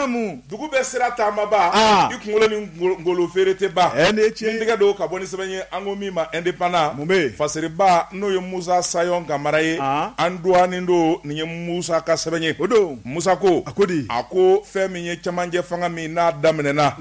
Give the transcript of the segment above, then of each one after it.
Namu dugu bɛ sira taamaba i kunkolo ni golo feere tɛ ba tigɛ don ka bɔ ni sɛbɛn ye an ko min ma Indépendant mun bɛ fasiriba n'o ye Musa Sayɔn Kamara ye an dɔgɔnin don nin ye musa ka sɛbɛn ye o don Musa ko a ko di a ko fɛn min ye cɛmancɛ fanga min n'a daminɛna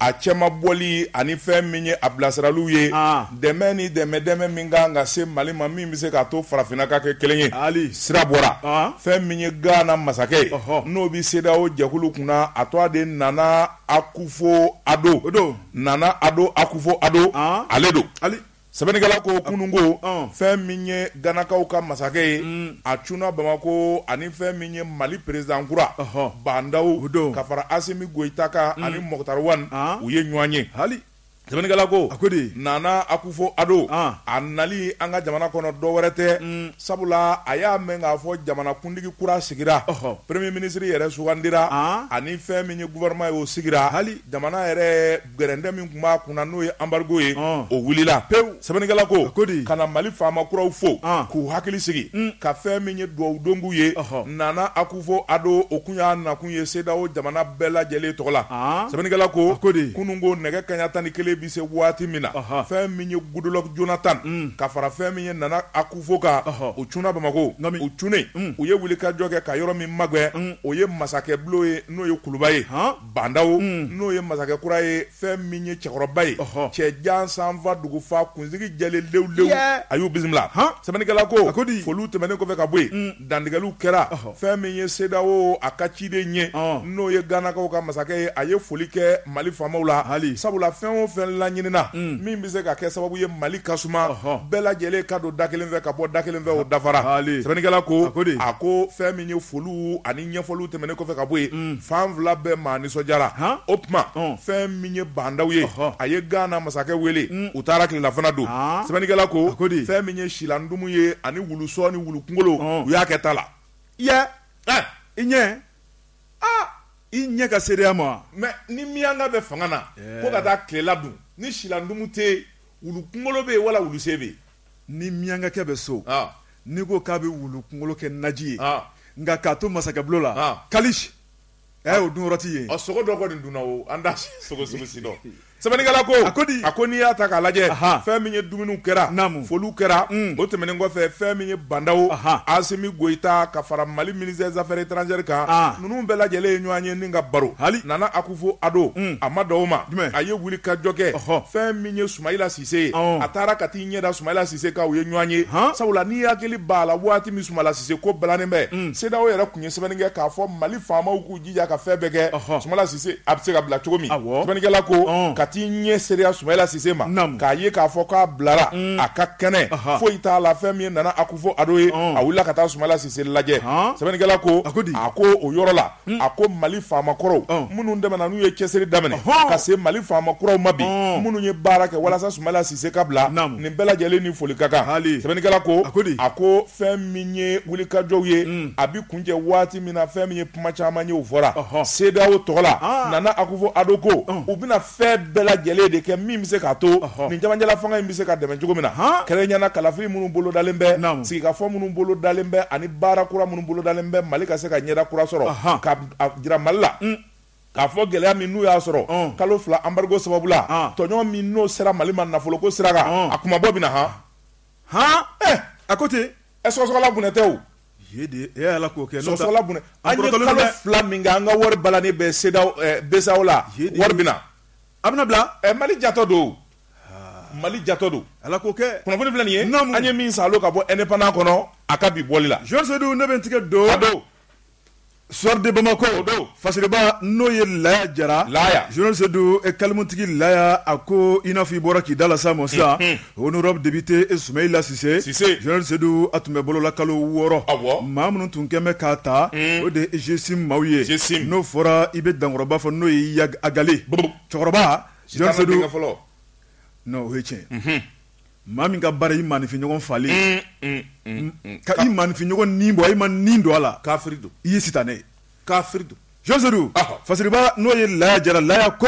a cɛmabɔli ani fɛn min ye a bilasiraliw ye dɛmɛ ni dɛmɛ dɛmɛ min ka kan ka se Mali ma min bɛ se k'a to farafinna ka kɛ kelen ye, hali, sira bɔra, an, fɛn min ye Ghana masakɛ ye, ɔhɔ, n'o bɛ CEDEAO jɛkulu kunna a tɔgɔ de Nana Akufo Addo, o don, Nana Addo Akufo Addo, an, ale don, hali, sɛbɛnnikɛla ko kunun ko, ɔn, fɛn min ye Ganakaw ka masakɛ ye, un, a cunna Bamako ani fɛn min ye Mali président kura, ɔhɔ, Ban Ndaw, o don, ka fara Asimi Goyita kan, un, ani Mɔkutari Wani, an, u ye ɲɔgɔn ye, Ali. Sɛbɛnnikɛla ko, a ko di, Nana Akufo Addo, an, a nali an ka jamana kɔnɔ dɔ wɛrɛ tɛ, un, sabula a y'a mɛn k'a fɔ jamanakuntigi kura sigira, ɔhɔ, premier ministre yɛrɛ sugandira, an, ani fɛn min ye gouvernement ye o sigira, hali, jamana yɛrɛ gɛrɛntɛ min tun b'a kunna n'o ye embargo ye, ɔn, o wulila pewu. Sɛbɛnnikɛla ko, a ko di? ka na Mali faama kuraw fo, an, k'u hakili sigi, un, ka fɛn min ye dugawu don k'u ye, ɔhɔ, Nana Akufo Addo, o tun y'a nakun ye CEDEAO jamana bɛɛ lajɛlen tɔgɔ la, an, sɛbɛnnikɛla ko, a ko di? kununko nɛgɛ kanɲa tan ni kelen bɛ se waati min na, ɔhɔ, fɛn min ye Goodluck Jonathan, un, ka fara fɛn min ye Nana Akufo kan, ɔhɔ, u cunna Bamako, nka min? u cunnen, un, u ye wulikajɔ kɛ ka yɔrɔ min magɛn, un, o ye masakɛbulon ye n'o ye kuluba ye, han. Ban Ndaw n'o ye masakɛ kura ye fɛn min ye cɛkɔrɔba ye cɛ jan san fa dugu fa kunsigi jɛlen lewlew a y'u bisimila sɛbɛnnikɛla ko a ko di foliw tɛmɛnen kɔfɛ ka bɔ yen dantigɛliw kɛra fɛn min ye CEDEAO a ka ciden ye n'o ye Ganakaw ka masakɛ ye a ye foli kɛ mali faamaw la hali sabula fɛn o fɛn laɲinina min bɛ se ka kɛ sababu ye mali ka suma bɛɛ lajɛlen ka don da kelen fɛ ka bɔ da kelen fɛ o dafara sɛbɛnnikɛla ko ko a ko fɛn min ye foliw ani ɲɛfɔliw tɛmɛnen kɔfɛ ka bɔ yen, un, fan fila bɛɛ maa nisɔndiyara, han, o tuma, ɔn, fɛn min ye Ban Ndaw ye, ɔhɔ, a ye Gana masakɛ wele, un, u taara tilelafana dun, aa, sɛbɛnnikɛla ko, a ko di, fɛn min ye silandumu ye ani wulusɔn ni wulukunkolo, ɔn, u y'a kɛ ta la, yɛ, ɛ, i ɲɛ, aa, i ɲɛ ka seereya ma wa? Mais ni miyanka bɛ fanga na, ko ka taa tilela dun, ni silandumu tɛ yen, wulukunkolo bɛ yen wala wulusen bɛ yen? Ni miyankakɛ bɛ so n'i ko k'a bɛ wulu kunkolo kɛ naji ye nka k'a to masakɛbulon la kali o dun yɔrɔ t'i ye a sogo dɔ kɔni dunna o an t'a sogo si dɔn sɛbɛnnikɛla ko a ko di a ko n'i y'a ta k'a lajɛ fɛn min ye dumuniw kɛra foliw kɛra o tɛmɛnen kɔfɛ fɛn min ye Ban Ndaw Asimi Goyita ka fara mali ministre des affaires étrangères kan ninnu bɛɛ lajɛlen ye ɲɔgɔn ye ni ka baro hali Nana Akufo Addo a ma dan o ma a ye wulikajɔ kɛ fɛn min ye Sumayila Sise awɔ a taara ka t'i ɲɛda Soumaïla Cisse kan u ye ɲɔɔn ye han sabula n'i hakili b'a la waati min Soumaïla Cisse ko balannen bɛ unhun CEDEAO yɛrɛ tun ye sɛbɛnni kɛ k'a fɔ Mali faamaw k'u jija ka fɛn bɛɛ kɛ ɔhɔ Soumaïla Cisse a bɛ se ka bila cogo min awɔ sɛbɛnnikɛla ko ɔɔn ka t'i ɲɛ seereya Soumaïla Cisse ma naamu k'a ye k'a fɔ k'a bilara uun a ka kɛnɛ ɔhɔ foyi t'a la fɛn min ye Nana Akufo-Addo ye ɔɔn a wulila ka taa Soumaïla Cisse lajɛ haan sɛbɛnnikɛla ko a ko di a ko o yɔrɔ la a ko mali faama kɔrɔw minnu tɛmɛna n'u ye cɛsiri daminɛ ka se mali faama kuraw ma bi minnu ye baara kɛ walasa Soumaïla Cisse ka bila nin bɛɛ lajɛlen ni foli ka kan sɛbɛnnikɛla ko a ko fɛn min ye wulikajɔw ye a bɛ kuncɛ waati min na fɛn min ye kuma caman ye o fɔra CEDEAO tɔgɔ la Nana Akufo-Addo ko u bɛna fɛn bɛɛ lajɛlen de kɛ min bɛ se k'a to nin camancɛla fanga in bɛ se ka dɛmɛ cogo min na kɛrɛnkɛrɛnnenya kalafili minnu bolodalen bɛ sigikafɔ minnu bolodalen bɛ ani baara kura minnu bolodalen bɛ mali ka se ka ɲɛda kura sɔrɔ k'a jira mali la k'a fɔ gɛlɛya min n'u y'a sɔrɔ kalo fila embargo sababu la tɔɲɔgɔn min n'o sera mali ma nafolo ko sira kan a kuma bɔ bɛ na hɔn hɔn a ko ten ɛ sɔgɔsɔgɔla bɔnɛ tɛ ala k'o kɛ an ye kalo fila min kɛ an ka wari balannen bɛ CEDEAO BCEAO la wari bɛ na a bɛna bila mali jatɔ don mali jatɔ don ala k'o kɛ kunnafoni filɛ nin ye an ye min salon ka bɔ Indépendant kɔnɔ a ka bi bɔli la Général Seydou ne bɛ tigɛ don don Soir de Bamako o don Fasiriba n'o ye Laya Jara Général Seydou kalimutigi Laya a ko i n'a fɔ i bɔra k'i da lase a ma sisan honorable député ɛ Soumaïla Cisse Général Seydou a tun bɛ bolo la kalo wɔɔrɔ a mɔgɔ minnu tun kɛlen bɛ k'a ta o de GSIM maaw ye n'o fɔra i bɛ dankɔrɔba fɔ n'o ye Iyad Ag Ghali cɛkɔrɔba fɔlɔ o ye tiɲɛ Maa min ka baara i maaninfin ɲɔgɔn faali ka i maaninfin ɲɔgɔn ni bɔ i ma ni don a la kafiri don i ye sitanɛ ye kafiri don Général Seydou Fasiriba n'o ye Laya Jara Laya ko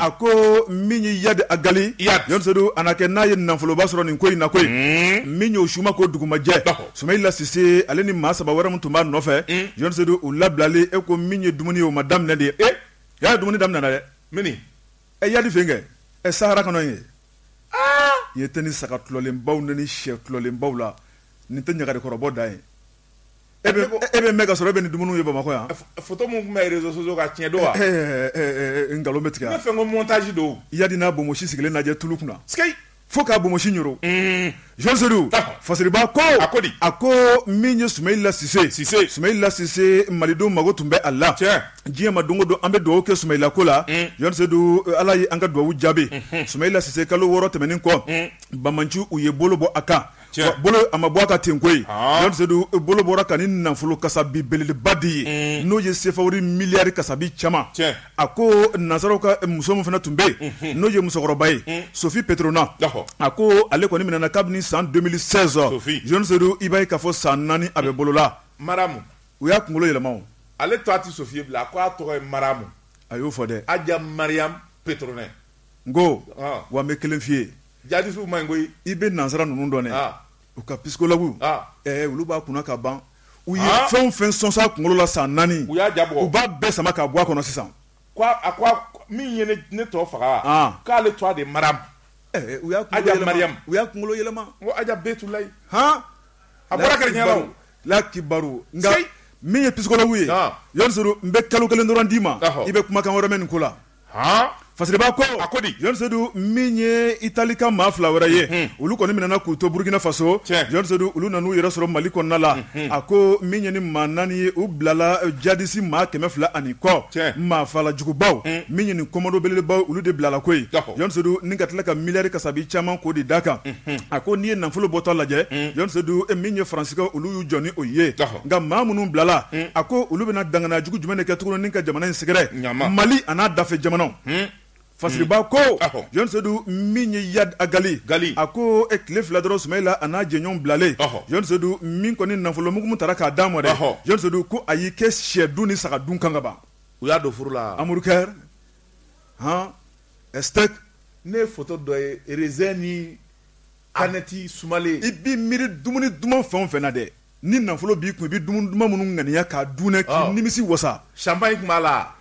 a ko min ye Iyad Ag Ghali Général Seydou a na kɛ n'a ye nafoloba sɔrɔ nin ko in na ko min y'o suma ko dugumajɛ Soumaïla Cisse ale ni maa saba wɛrɛ min tun b'a nɔfɛ Général Seydou u labilali e ko min ye dumuni ye o ma daminɛ de ye e y'a ye dumuni daminɛna dɛ ɛ Iyad fɛnkɛ ɛ sahara kɔnɔ yen i ye tɛ ni saga tulɔlenbaw ni ni shɛ tulɔlenbaw la nin tɛ ɲagari kɔrɔbɔ da ye e bɛ mɛn ka sɔrɔ e bɛ nin dumuni ye bamakɔ yan photo minnu tun bɛ réseaux sociaux kan tiɲɛ don wa nkalon bɛ tigɛ fɛn ko mɔntaji don Iyad n'a bonmosi sigilen lajɛ tulu kunna fo k'a bonmosi ɲoro Général Seydou fasiriba ko a ko di a ko min ye Soumaïla Cisse ye Soumaïla Cisse malidenw mago tun bɛ a la tiɲɛ diɲɛ ma don o don an bɛ dugawu kɛ Soumaïla ko la Général Seydou ala ye an ka dugawu jaabi Soumaïla Cisse kalo wɔɔrɔ tɛmɛnen kɔ banbaanciw y'u bolo bɔ a kan bolo a ma bɔ a kan ten koyi jɔn sedu bolo bɔr'a kan ni nafolo kasabi belebeleba de ye n'o ye sefa miliyari kasabi caman a ko nansaraw ka muso min fana tun bɛ yen n'o ye musokɔrɔba ye sofi petrona a ko ale kɔni minɛna kabini san deux mille seize jɔn sedu i b'a ye k'a fɔ san naani a bɛ bolola maramu u y'a kunkolo yɛlɛma ale tɔgɔ tɛ sofi ye bilen a k' a tɔgɔ ye maramu a y'o fɔ dɛ aja mariam petrona n ko wa n bɛ kelen f'i ye Jadisiw man ɲi koyi i bɛ nansara ninnu dɔn dɛ u ka psychologue olu b'a kunna ka ban u ye fɛn o fɛn sɔsɔ a kunkolo la san naani u y'a ja u b'a bɛɛ sama k'a bɔ a kɔnɔ sisan min ye ne tɔ faga k'ale tɔgɔ de maramu u y'a kunkolo yɛlɛma tula a bɔra kɛ la kibaru nka min ye psychologue ye jɔn sedu n bɛ kalo kelen dɔrɔn d'i ma i bɛ kumakan wɛrɛ mɛn nin ko la fasiriba ko a ko di jɔn sedu min ye itali ka maa fila wɛrɛ ye olu kɔni minɛna k'u to burukina faso jɔn sedu olu nana u yɛrɛ sɔrɔ mali kɔnɔna la a ko min ye ni maa naani ye u bilala jadisi maa kɛmɛ fila ani kɔ maafalajugubaw min ye nin kɔmando belebelebaw olu de bilala koyi jɔn sedu ni ka tila ka miliyari kasabi caman k'o de d'a kan a ko n'i ye nafolo bɔtɔ lajɛ jɔn sedu min ye faransika olu y'u jɔ ni o ye nka maa minnu bilala a ko olu bɛna dangana jugu jumɛn de kɛ tuguni ni ka jamana in sɛgɛrɛ mali a n'a dafɛ jamanaw fasiriba ko jɔn sedu min ye yadi agali a ko e tile fila dɔrɔn sumayila a n'a jɛɲɔgɔn bilalen jɔn sedu min kɔni nafolo mugu min taara k'a d'a ma dɛ jɔn sedu ko a y'i kɛ sɛ dun ni saga dun kan ka ban u y'a don furu la hamburger steak ne ye foto dɔ ye raisin ni Anɛti sumalen i b'i miiri dumuni duman fɛn o fɛn na dɛ ni nafolo b'i kun i bɛ dumuni duman minnu ŋaniya k'a dun k'i nimisi wasa champagne tun b'a la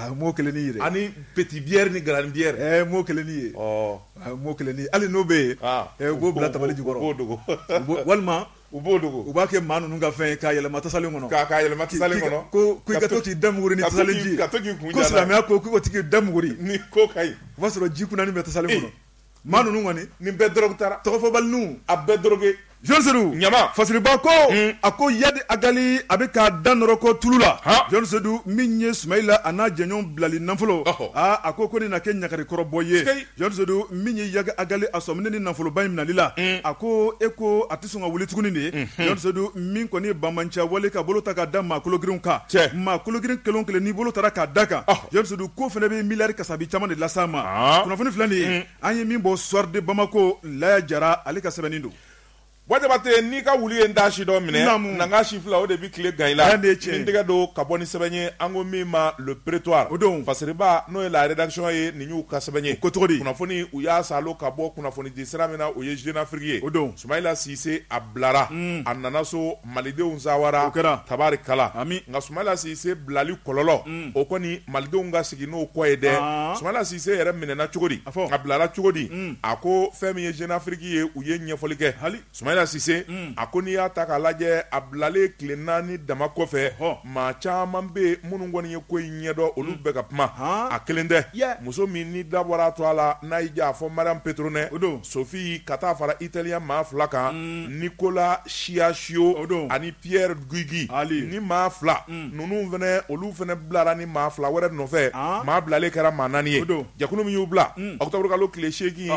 n m'o kelen in ye dɛ ani petit bière ni grande bière n m'o kelen in ye n m'o kelen ye hali n'o bɛ yen u b'o bila tabali jukɔrɔ u b'o dogo walima U b'o dogo u b'a kɛ maa ninnu ka fɛn ye k'a yɛlɛma tasalen kɔnɔ k'a ka yɛlɛma tasalen kɔnɔ ko ko i ka to k'i da muguri ni ka to tasalen k'i- ji ye. ka to k'i kun ko jalan. silamɛya ko k'u ka to k'i da muguri ni ko ka ɲi o b'a sɔrɔ ji kunanin bɛ tasalen Ee. kɔnɔ maa ninnu kɔni nin bɛɛ dɔrɔgu taara tɔgɔfɔbaliniw a bɛɛ dɔrɔge Jɔn Sedu Ɲama. fasiriba ko Un. a ko yadi agali a bɛ k'a da nɔrɔ ko tulu la Han. Jɔn Sedu min ye Sumayila a n'a jɛɲɔgɔn bilali nafolo Ɔhɔ. aa a ko ko nin na kɛ ɲagarikɔrɔbɔ ye Sikeyi. Jɔn Sedu min ye Yadi Agali a sɔminen ni nafoloba in minɛli la, un, a ko e ko a tɛ sɔn ka wuli tuguni de, unhun, Jɔn Sedu min kɔni ye banbaanciya wale ka bolo ta ka da maa kologirinw kan, cɛ, maa kologirin kelen o kelen n'i bolo tara ka d'a kan, ɔhɔ, Jɔn Sedu k'o fana bɛ miliyari kasabi caman de las'a ma, aa, kunnafoni filɛ nin ye, un, an ye min bɔ Soir de Bamako, Laya Jara ale ka sɛbɛnni don. Wa jabatɛ n'i ka wulu ye da si dɔ minɛ na si fila o de bɛ tile gan i la ni tɛgɛ don ka bɔ ni sɛbɛn ye an ko min ma Le Prétoire o don fasiriba n'o ye la rédaction ye nin y'u ka sɛbɛn ye ko cogo di kunnafoni u y'a salo ka bɔ kunnafoni di sira min na o ye Jeune Afrique ye o don Sumayila Sise a bilara a nana so malidenw sawara o kɛra tabarikala nka Sumayila Sise bilali kɔlɔlɔ o kɔni malidenw ka sigi n'o kɔ ye dɛ Sumayila Sise yɛrɛ minɛna cogo di a bilara cogo di a ko fɛn min ye Jeune Afrique ye u ye ɲɛfɔli kɛ hali Sumayila Sise a ko n'i y'a ta k'a lajɛ a bilalen tile naani dama kɔfɛ maa caman bɛ minnu kɔni ye ko in ɲɛdɔn olu bɛɛ ka kuma a kelen tɛ muso min ni dabɔra a tɔgɔ la n'a y'i diya a fɔ Mariyamu Petronin o don Sofi ka taa fara Italiya maa fila kan Nicola Chiacchio o don ani Pier Luigi hali ni maa fila ninnu fana olu fana bilara ni maa fila wɛrɛ nɔfɛ maa bilalen kɛra maa naani ye don jɛkulu min y'u bila octobre kalo tile seegin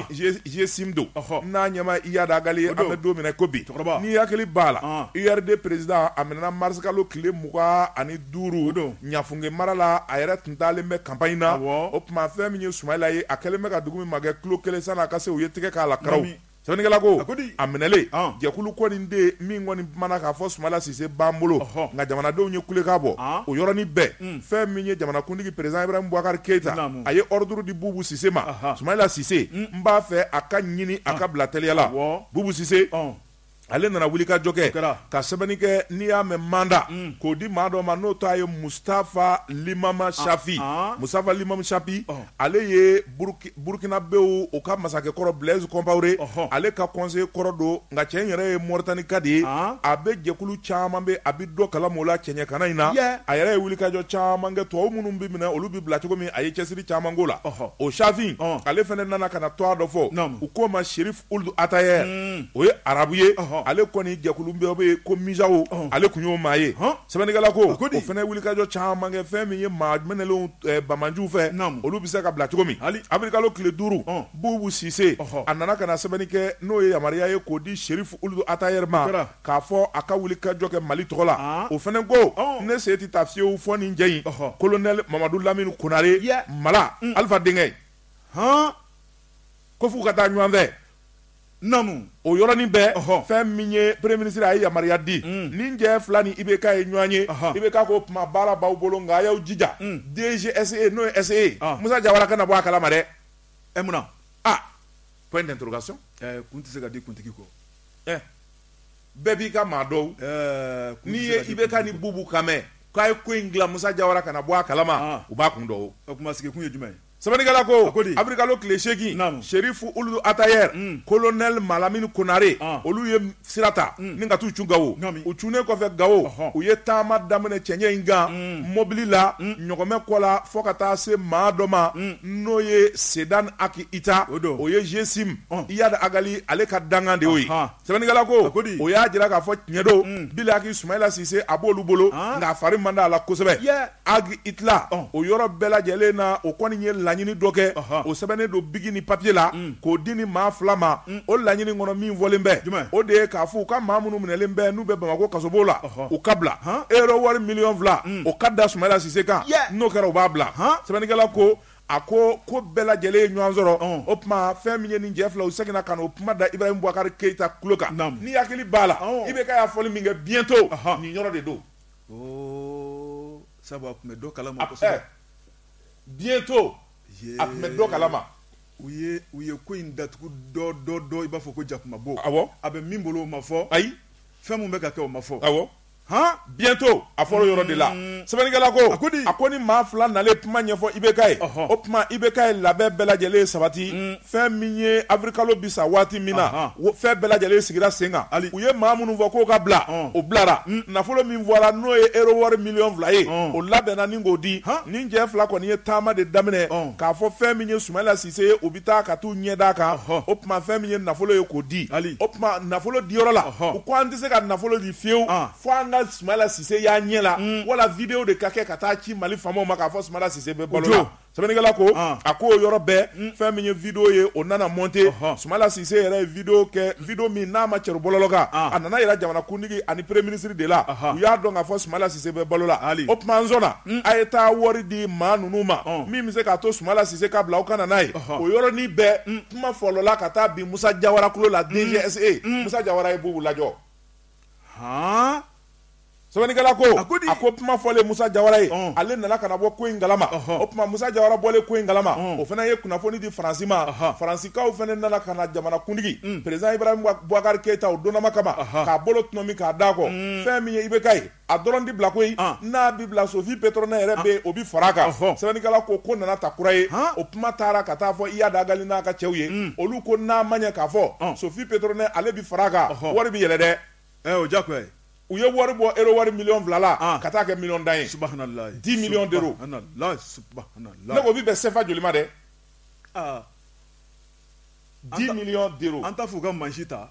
GSIM don n'a ɲɛmaa Iyad Ag Ghali an bɛ don min na ko bi cɛkɔrɔba n'i hakili b'a la URD président a minɛna mars kalo tile mugan ani duuru o don Ɲafunke mara la a yɛrɛ tun taalen bɛ campagne na o tuma fɛn min ye Sumayila ye a kɛlen bɛ ka dugu min magɛn kilo kelen sann'a ka se u ye tɛgɛ k'a la karaw sɛbɛnnikɛla ko a minɛlen jɛkulu kɔni den min kɔni ma na k'a fɔ Sumayila Sise b'an bolo nka jamanadenw ye kulekan bɔ o yɔrɔnin bɛɛ fɛn min ye jamanakuntigi président Ibrahim Bubakari Keyita a ye ordre di bubu sise ma Sumayila Sise n b'a fɛ a ka ɲini a ka bila teliya la bubu sise ale nana wulikajɔ kɛ ka sɛbɛnni kɛ n'i y'a mɛn mandat mm. k'o di maa dɔ ma n'o tɔgɔ ye mustafa limama ah, shafi ah. mustafa limama shafi oh. ale ye burukinabew u ka masakɛ kɔrɔ blaise compaore ale ka conseiller kɔrɔ don nka cɛ yɛrɛ ye Moritanika de ye ah. a bɛ jɛkulu caman bɛ a bɛ dɔ kalama o la cɛɲɛkana in na a yɛrɛ ye wulikajɔ caman kɛ tubabu minnu bɛ minɛ olu bɛ bila cogo min a ye cɛsiri caman k'o la o shafi ale fana nana ka na tɔgɔ dɔ fɔ u k'o ma Sherif Ould Ataher o ye arabu ye ale kɔni jɛkulu bɛ yen ko MUJAO ale tun y'o maa ye sɛbɛnnikɛla ko o fana wulikajɔ caman kɛ fɛn min ye maa minɛlenw banbaanciw fɛ olu bɛ se ka bila cogo min hali avril kalo tile duuru bubu sise a nana ka na sɛbɛnni kɛ n'o ye yamaruya ye k'o di Sherif Ould Ataher ma k'a fɔ a ka wulikajɔ kɛ mali tɔgɔ la o fana ko ne sen tɛ taa fiyewu fo ni jɛ in colonel mamadu lamini konare Mala Alifa denkɛ hɔn ko f'u ka taa ɲɔgɔn fɛ naamu o yɔrɔnin bɛɛ fɛn min ye premier ministre a ye yamaruya di mm. ni jɛ fila ni IBK ye ɲɔgɔn ye IBK ko tuma baara b'aw bolo nka a y'aw jija mm. DGSE n'o ye SE ye ah. Musa Jawara kana bɔ a kalama dɛ ɛ eh, munna ah point d'interrogation eh, kun tɛ se ka di kuntigi kɔ eh, bɛɛ b'i ka maa dɔn n'i ye IBK ni bubu kan mɛn k'a ye ko in dilan Musa Jawara kana bɔ a kalama ah. u b'a kun dɔn o kuma sigikun ye jumɛn ye Sɛbɛnnikɛla ko, a ko di? Abrikalo tile seegin, naamu, Serifu Uludu Atayɛri, un, Kolonɛli Malamini Konare, an, olu ye sira ta, un, ni ka t'u cun Gawo, naamu, u cunnen kɔfɛ Gawo, ɔhɔ, u ye taama daminɛ cɛɲɛ in kan, un, mɔbili la, un, ɲɔgɔmɛ kɔ la fɔ ka taa se maa dɔ ma, un, n'o ye Sedani Aki Ita, o don, o ye Zesim, ɔn, Iyadi Agali ale ka dankan de y'o ye. Anhan. Sɛbɛnnikɛla ko, a ko di, o y'a jira k'a fɔ tiɲɛ don, un, bilahaki Soumaila Cisse a b'olu bolo, an, nka a fari man d'a la kosɛbɛ, yɛɛ, ag itla, ɔn, o yɔrɔ bɛɛ lajɛlen na o kɔni ye laɲini dɔ kɛ, ɔhɔ, o sɛbɛnnen don biki ni papier la, un, k'o di nin maa fila ma, un, o laɲini kɔnɔ min fɔlen bɛ, jumɛn, o de ye k'a fɔ u ka maa minnu minɛlen bɛ n'u bɛ Bamakɔ kasobon la, ɔhɔ, u ka bila, han, euro wari miliyɔn fila, un, o ka da Soumaila Cisse kan, yɛɛ, n'o kɛra u b'a bila, han, sɛbɛnnikɛla ko A ko ko bɛɛ lajɛlen ye ɲɔgɔn sɔrɔ o tuma fɛn min ye nin cɛ fila u seginna ka na o kuma da Ibrahim Bubakari Keyita tulo kan n'i hakili b'a la IBK y'a fɔli min kɛ bientôt nin yɔrɔ de don sabu a tun bɛ dɔ kalama bientôt a tun bɛ dɔ kalama u u ye ko in datugu dɔ dɔ dɔ i b'a fɔ ko jakumabo a bɛ min bolo o ma fɔ ayi fɛn min bɛ ka kɛ o ma fɔ awɔ han bientôt a fɔra yɔrɔ de la mm. sɛbɛnnikɛla ko a ko di a ko nin maa fila nalen kuma ɲɛfɔ IBK ye o tuma IBK ye labɛn bɛɛ lajɛlen sabati mm. fɛn min ye avril kalo bi sa waati min na fɛn bɛɛ lajɛlen sigira sen kan hali u ye maa minnu fɔ k'o ka bila o bilara mm. nafolo min fɔra n'o ye euro wari miliyɔn fila ye o labɛnna ni k'o di nin cɛ fila kɔni ye taama de daminɛ k'a fɔ fɛn min ye Sumayila se u bɛ taa ka taa u ɲɛ d'a kan o tuma fɛn min ye nafolo ye k'o di hali o tuma nafolo di yɔrɔ la u ko an tɛ se ka nafolo di fiyewu fo an ka Sumala Sise y'an ɲɛ la wala video de ka kɛ ka taa ci Mali faamaw ma k'a fɔ Sumala Sise bɛ balo la sɛbɛnnikɛla ko a k'o yɔrɔ bɛɛ fɛn min ye video ye o nana monter Sumala Sise yɛrɛ ye video kɛ video min n'a ma cɛri bɔlɔlɔ kan a nana jira jamanakuntigi ani premier ministre de la u y'a dɔn k'a fɔ Sumala Sise bɛ balo la o tuma an sɔnna A ye taa wari di maa ninnu ma min bɛ se k'a to sumala sise ka bila aw ka na n'a ye o yɔrɔnin bɛɛ kuma fɔlɔla ka taa bin Musa Jawara tulo la DGSE Musa Jawara ye Bubu lajɔ sɛbɛnnikɛla ko a ko a ko kuma fɔlen Musa Jawara ye ale nana ka na bɔ ko in kalama o tuma Musa Jawara bɔlen ko in kalama o fana ye kunnafoni di faransi ma faransikaw fana nana ka na jamanakuntigi président Ibrahim Bubakari Keyita o donma kama k'a bolo tɔnɔmi k'a d'a kɔ fɛn min ye IBK ye a dɔrɔn tɛ bila koyi n'a bɛ bila Sophie Pétronin yɛrɛ bɛ o bɛ fara kan sɛbɛnnikɛla ko ko nana ta kura ye o kuma taara ka taa fɔ Iyadi Agali n'a ka cɛw ye olu ko n'a ma ɲɛ k'a fɔ Sophie Pétronin ale bɛ fara kan wari bɛ yɛlɛ dɛ o ja u ye wari bɔ euro wari miliyɔn fila la ka taa kɛ miliyɔn tan ye dix millions d'euros ne ko o bɛ bɛn sefa joli ma dɛ dix millions d'euros an taa fo ka mansin ta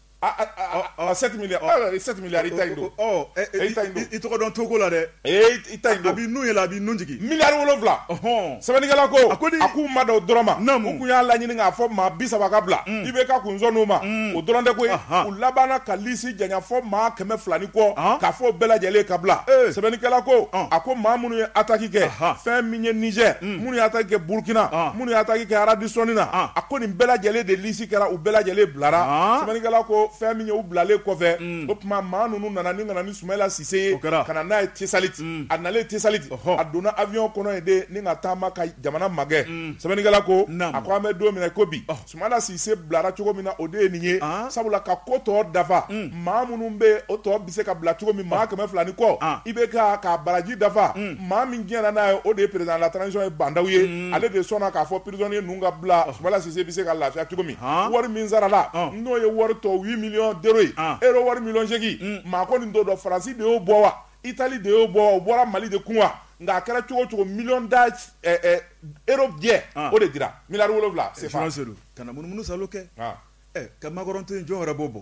sept milliards sept milliards i ta don i tɔgɔ dɔn togo la dɛ i ta don bi n'u ye a bɛ n jigin miliyari wolonwula hɔn sɛbɛnnikɛla ko a ko k'u ma dan o dɔrɔn ma u tun y'a laɲini k'a fɔ maa bi saba ka bila i bɛ ka kunsɔn' ma o dɔrɔn tɛ ko u labanna ka lisi janya fo maa kɛmɛ fila ni kɔ k'a fɔ o bɛɛ lajɛlen ka bila sɛbɛnnikɛla ko a ko maa minnu ye ataki kɛ fɛn min ye nizɛri minnu ye ataki kɛ burukina minnu ye ataki kɛ aradisɔni na a ko nin bɛɛ lajɛlen de kɛra u bɛɛ lajɛlen bilara sɛbɛnnikɛla ko fɛn min ye u bilalen kɔfɛ o kuma maa ninnu nana ni ka na ni sumayila sise ye ka na n'a ye tesaliti a nalen tesaliti a donna aviyɔn kɔnɔ yen de ni ka taama ka jamana magɛn sɛbɛnnikɛla ko a ko an bɛ don min na ko bi sumayila sise bilara cogo min na o de ye nin ye sabula ka ko tɔw dafa maa minnu bɛ o tɔ se ka bila cogo min maa kɛmɛ fila ni kɔ i bɛ ka baraji dafa maa min jɛnna n'a ye o de ye président de la transition ye bandaw ye ale de sɔnna k'a fɔ prisonnier ninnu ka bila sumayila sise bɛ se ka lafiya cogo min wari min sarala n'o ye wari tɔ huit millions d'euros euro wari miliyɔn segin maa kɔni t'o dɔn faransi de y'o bɔ wa itali de y'o bɔ wa o bɔra mali de kun wa nka a kɛra cogo o cogo million d'euros jɛ o de dira miliyari wolonwula se ka munumunu salo kɛ ka makɔrɔn jɔn yɛrɛ b'o bɔ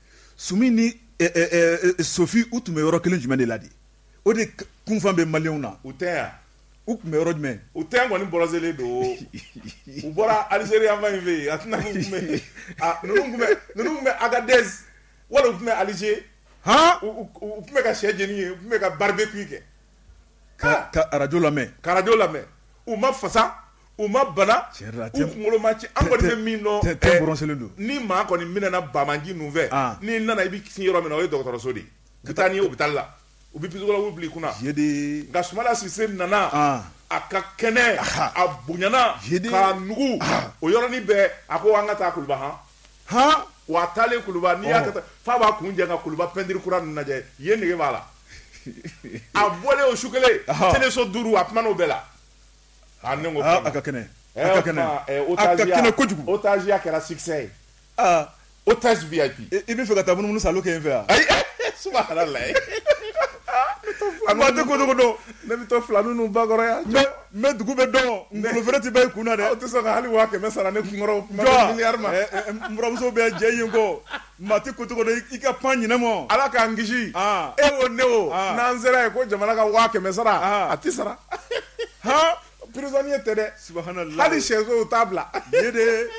Sumi ni sofi u tun bɛ yɔrɔ kelen jumɛn de la de o de kunfan bɛ maliyɛnw na u tɛ yan u tun bɛ yɔrɔ jumɛn u tɛ kɔni bronzélen don u bɔra alizeri fan fɛ yen ninnu tun bɛ agadɛzi wala u tun bɛ alize h u tun bɛ ka sɛ jeni yen u tun bɛ ka barbecue kɛ ka arajo lamɛn ka arajo lamɛn u ma fasa u ma bana u kunkolo ma ci an kɔni bɛ min dɔn ni maa kɔni minɛna banbaganci ninnu fɛ n'i nana i bɛ sin yɔrɔ min o ye dɔgɔtɔrɔso de ye ka taa n'i ye hôpital la u bɛ psychologue bila i kunna nka sumayila sise nana a ka kɛnɛ a bonyana k'a nugu o yɔrɔnin bɛɛ a ko an ka taa kuluba h hɔn wa a taalen kuluba n'i y'a kɛ tan f'a b'a kun jan ka kuluba pɛntiri kura lajɛ yen nege b'a la a bɔlen o su kelen teleso duuru a kumana o bɛɛ la Ah, ne ko Aa, kɛmɛ. a ka kɛnɛ. Eh, A ka o kɛnɛ. tuma, eh, A ka otaziya- kɛnɛ kojugu. otaziya kɛra succès ye. Aa, Otage VIP. i i b'a fɛ ka taa munumunu salo kɛ yen fɛ yan. Ayi, eh, subhanallah. Maa tɛ ko dogo dɔn. Ne bɛ to filani ninnu ba kɔrɔ yan. N bɛ- n bɛ dugu bɛɛ dɔn. Ngolo fere tɛ ban i kun na dɛ. Aw tɛ sɔn ka hali waa kɛmɛ sara ne kunkɔrɔ. Kuma Jɔn? bɛ miliyari ma. Eh, eh, n buramuso bɛ jɛ yen kɔ. Maa tɛ ko cogo i ka pan ɲma ala k'an kisi e o ne o n'an sera yen ko jamana ka waa kɛmɛ sara a tɛ sara hɔn prisonnier tɛ dɛ su hali sɛso t'a bila e de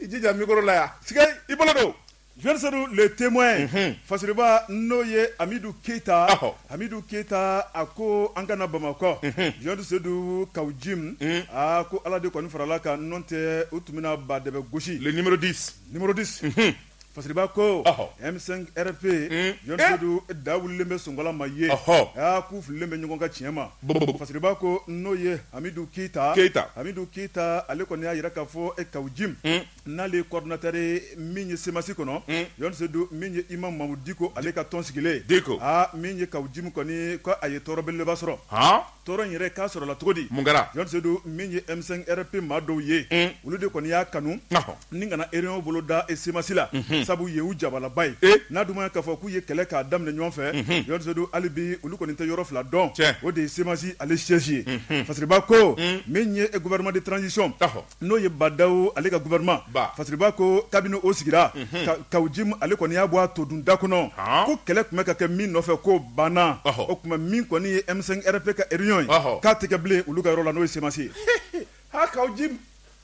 i jija mikoro la yan si i bolo don jeune sedu le témoin fasiriba n'o ye amidu keyita ahɔ amidu keyita a ko an kana bamakɔ jeune sedu kawu jim a ko ala de kɔni farala an kan nɔntɛ u tun bɛna ba dɛbɛ gosi ninmurudise Numéro 10 unhun Fasiriba koo ɔhɔ M5 RFP un Jɔni e Sedu e da wulilen bɛ sonkala ma yen ɔhɔɔ aa k'u fililen bɛ ɲɔgɔn ka tiɲɛ ma bobobo Fasiriba ko n'o ye Hamidu Keyita Keyita Hamidu Keyita ale kɔni y'a jira k'a fɔ e Kawo Jim un n'ale ye coordinateur ye min ye CMAS kɔnɔ un Jɔni Sedu min ye imam Mahmud Diko ale ka tɔn sigilen Diko aa min ye Kawo Jim kɔni ko a ye tɔɔrɔ belebeleba sɔrɔ haan Tɔɔrɔ in yɛrɛ k'a sɔrɔla cogo di? Mun kɛra? Jɔn Sedu min ye M5 RFP maa dɔw ye, un, olu de kɔni y'a kanu, ɔhɔ, ni ka na réunion boloda CMAS la, unhun, sabu ye u jabalaba ye, e! n'a dun ma ɲɛ k'a fɔ k'u ye kɛlɛ k'a daminɛ ɲɔgɔn fɛ, unhun, Jɔn Sedu hali bi olu kɔni tɛ yɔrɔ fila dɔn, tiɲɛ, o de ye CMAS ale siège ye, unhun, Fasiriba ko, un, min ye gouvernement de transition, ɔhɔ. n'o ye Bah N'Daw ale ka gouvernement Fasiriba ko kabini o sigira unhun aa Kawo Jim ale kɔni y'a bɔ a todun da kɔnɔ haan ko kɛlɛ tun bɛ ka kɛ min nɔfɛ k'o banna ɔhɔ o tuma min kɔni ye M5 RFP ka réunion ye ɔhɔ k'a tɛ kɛ bilen olu ka yɔrɔ la n'o ye CMAS ye haa Kawo Jim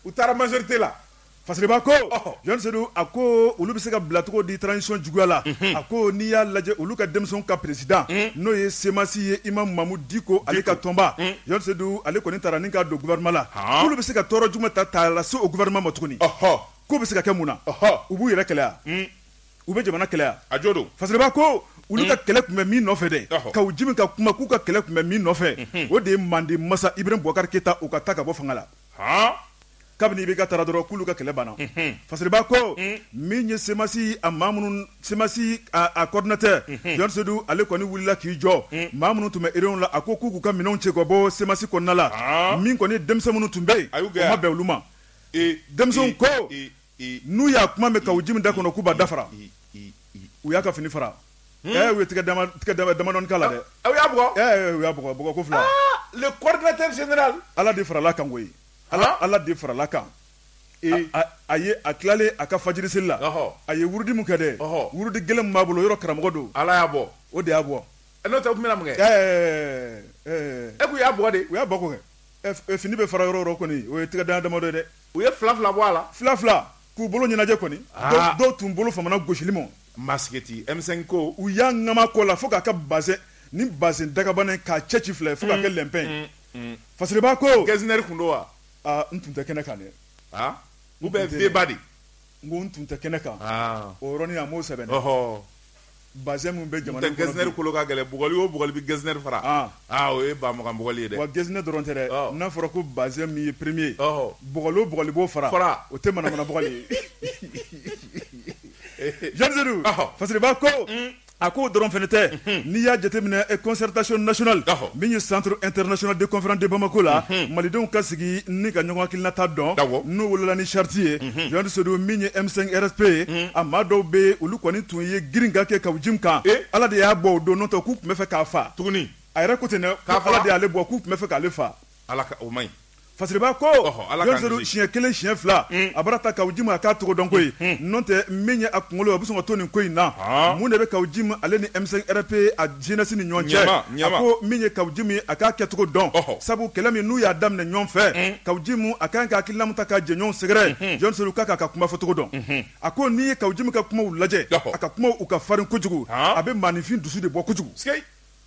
u taara majorité la Fasiriba ko ɔhɔ Jɔn Sedu a koo olu bɛ se ka bila cogo di transition juguya la unhun a ko n'i y'a lajɛ olu ka denmisɛnw ka président unh n'o ye CMAS ye Imam Mahmud Diko ale ka tɔnba Jɔn Sedu ale kɔni taara ni ka don gouvernement la k'olu bɛ se ka tɔɔrɔ jumɛn ta ta lase o gouvernement ma tuguni k'o bɛ se ka kɛ mun na u b'u yɛrɛ kɛlɛya u bɛ jamana kɛlɛya a jo don Fasiriba ko olu ka kɛlɛ tun bɛ min nɔfɛ dɛ Kawo Jim ka kuma k'u ka kɛlɛ tun bɛ min nɔfɛ o de ye Manden masa Ibrahim Boubacar Keita o ka taa ka bɔ fanga la. kabini IBK taara dɔrɔn k'olu ka kɛlɛ banna Fasiriba ko min ye CMAS a maa minnu CMAS a coordinateur Jɔn Sedu ale kɔni wulila k'i jɔ maa minnu tun bɛ réunion la a ko k'u k'u ka minɛnw cɛ ka bɔ CMAS kɔnɔna la min kɔni denmisɛn minnu tun bɛ yen o ma bɛn olu ma denmisɛnw ko N'u y'a kuma mɛn Kawo Jim da kɔnɔ k'u b'a da fara u y'a ka fini fara u ye tɛgɛ damadɔ k'a la dɛ u y'a bugɔ u y'a bugɔ ko fila le coordinateur général ala de farala kan koyi ala ala de farala kan a ye a tilalen a ka fajiri seli la a ye wurudi min kɛ dɛ wurudi gɛlɛn b'a bolo yɔrɔ karamɔgɔ don ala y'a bɔ o de y'a bɔ n'o tɛ u tun bɛna mun kɛ e k'u y'a bugɔ de u y'a bugɔ ko kɛ fini bɛɛ fara yɔrɔ kɔni o ye tɛgɛ damadɔ ye dɛ u ye fila fila bɔ a la fila fila k'u bolo ɲɛnajɛ kɔni dɔw tun bolo famana gosili ma masigiti M5 ko u y'a ŋama kɔ la fo k'a ka bazin ni bazin dagabana k'a cɛci fila ye fo k'a kɛ lɛnpɛn ye Fasiriba ko Getzner tun don wa n tun tɛ kɛnɛ kan dɛ ou bien Veba de n ko n tun tɛ kɛnɛ kan o yɔrɔnin a m'o sɛbɛn ɔɔ Bazin min bɛ jamana in kɔnɔ bi, Getzner kolo ka gɛlɛn, bugɔli o bugɔli bɛ Getzner fara, an, aa o ye ba mugan bugɔli ye dɛ, wa Getzner dɔrɔn tɛ dɛ, ɔ, n'a fɔra ko bazin min ye premier ye, ɔhɔ, bugɔli o bugɔli b'o fara, fara, o tɛ manamana bugɔli ye, Jɔni Sedu, ɔhɔ, Fasiriba ko, un, a k'o dɔrɔn fana tɛ, unhun, n'i y'a jateminɛ ɛ concertation nationale, ɔhɔ, min ye centre international de conférence de Bamako la, unhun, malidenw ka sigi ni ka ɲɔgɔn hakilinata dɔn, awɔ, n'o wolola ni charte ye, un Jean Zedou min ye M5 RFP ye a maa dɔw bɛ olu kɔni tun ye girinka kɛ Kawu Jim kan ala de y'a bɔ o don n'o tɛ k'u tun bɛ fɛ k'a faa tuguni a yɛrɛ ko ten dɛ Ala de y'ale bɔ k'u tun bɛ fɛ k'ale faa ala o man ɲi Fasiriba ko siɲɛ kelen siɲɛ fila a bɔra Kawu Jim a k'a cogo dɔn koyi n'o tɛ min ye a kunkolo a bɛ sɔn ka to nin ko in na mun de bɛ Kawu Jim ale ni M5 RFP Jeunesse ni ɲɔgɔn cɛ ko min ye Kawu Jim a k'a kɛcogo dɔn sabu kɛlɛ min n'u y'a daminɛ ɲɔgɔn fɛ Kawu Jim a kan ka hakilina min ta k'a jɛɲɔgɔn sɛgɛrɛ jɔn kan ka kuma fɔcogo dɔn a ko n'i ye Kawu Jim ka kumaw lajɛ a ka kumaw u ka farin kojugu a bɛ maaninfin dusu de bɔ kojugu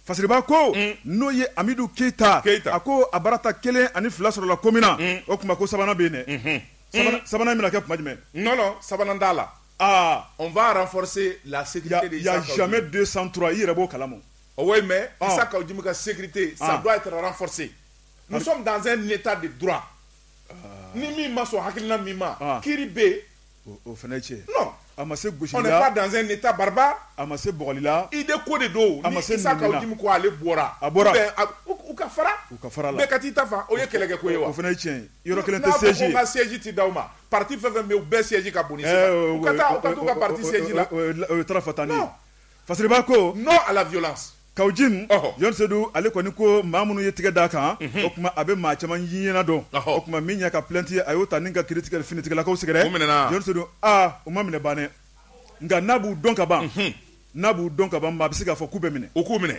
Fasiriba ko n'o ye amidu keyita keyita a ko a baarata kelen ani fila sɔrɔla ko min na o tuma ko sabanan bɛ yen dɛ sabanan bɛna kɛ kuma jumɛn sabanan t'a la aa on va renforcer la sécurité de Issa Kaou Djim. Il y a jamais deux sans trois i yɛrɛ b'o kalama. Ah oui mais ah. Issa Kaou Djim ka sécurité ça ah. doit être renforcé. Nous ah. sommes dans un état de droit. Ni min ma sɔn hakilina min ma kiri bɛ yen. O fana ye tiɲɛ. Non. A ma se gosili la. On n'est pas dans un état barbare. A ma se bɔgɔli la. Idée ko de don. A ma se nɛni na. Ni Issa Kaou Djim ko ale bɔra. A bɔra. U ka fara. U ka fara la. Bɛɛ ka t'i ta fan o ye kɛlɛkɛ ko ye wa. O fana ye tiɲɛ ye. Yɔrɔ kelen tɛ siège ye. N'a ko ko n ka siège tɛ d'aw ma. pati fɛn fɛn u bɛɛ siège ka bon eh, ka pati siège la tan Fasiriba ko non à la violence Kawu Jim Jean Zedou ale kɔni ko maa minnu ye tigɛ d' a kan mhm. o tuma a bɛ maa caman ɲɛna dɔn o tuma min y'a ka plainte ye a y'o ta ni ka kiiritigɛ finitigilakaw sɛgɛrɛ Jean Zedou aa u ma minɛ bannen nka n'a b'u dɔn ka ban mhm. n'a b'u dɔn ka ban maa bɛ se k'a fɔ k'u bɛ minɛ u k'u minɛ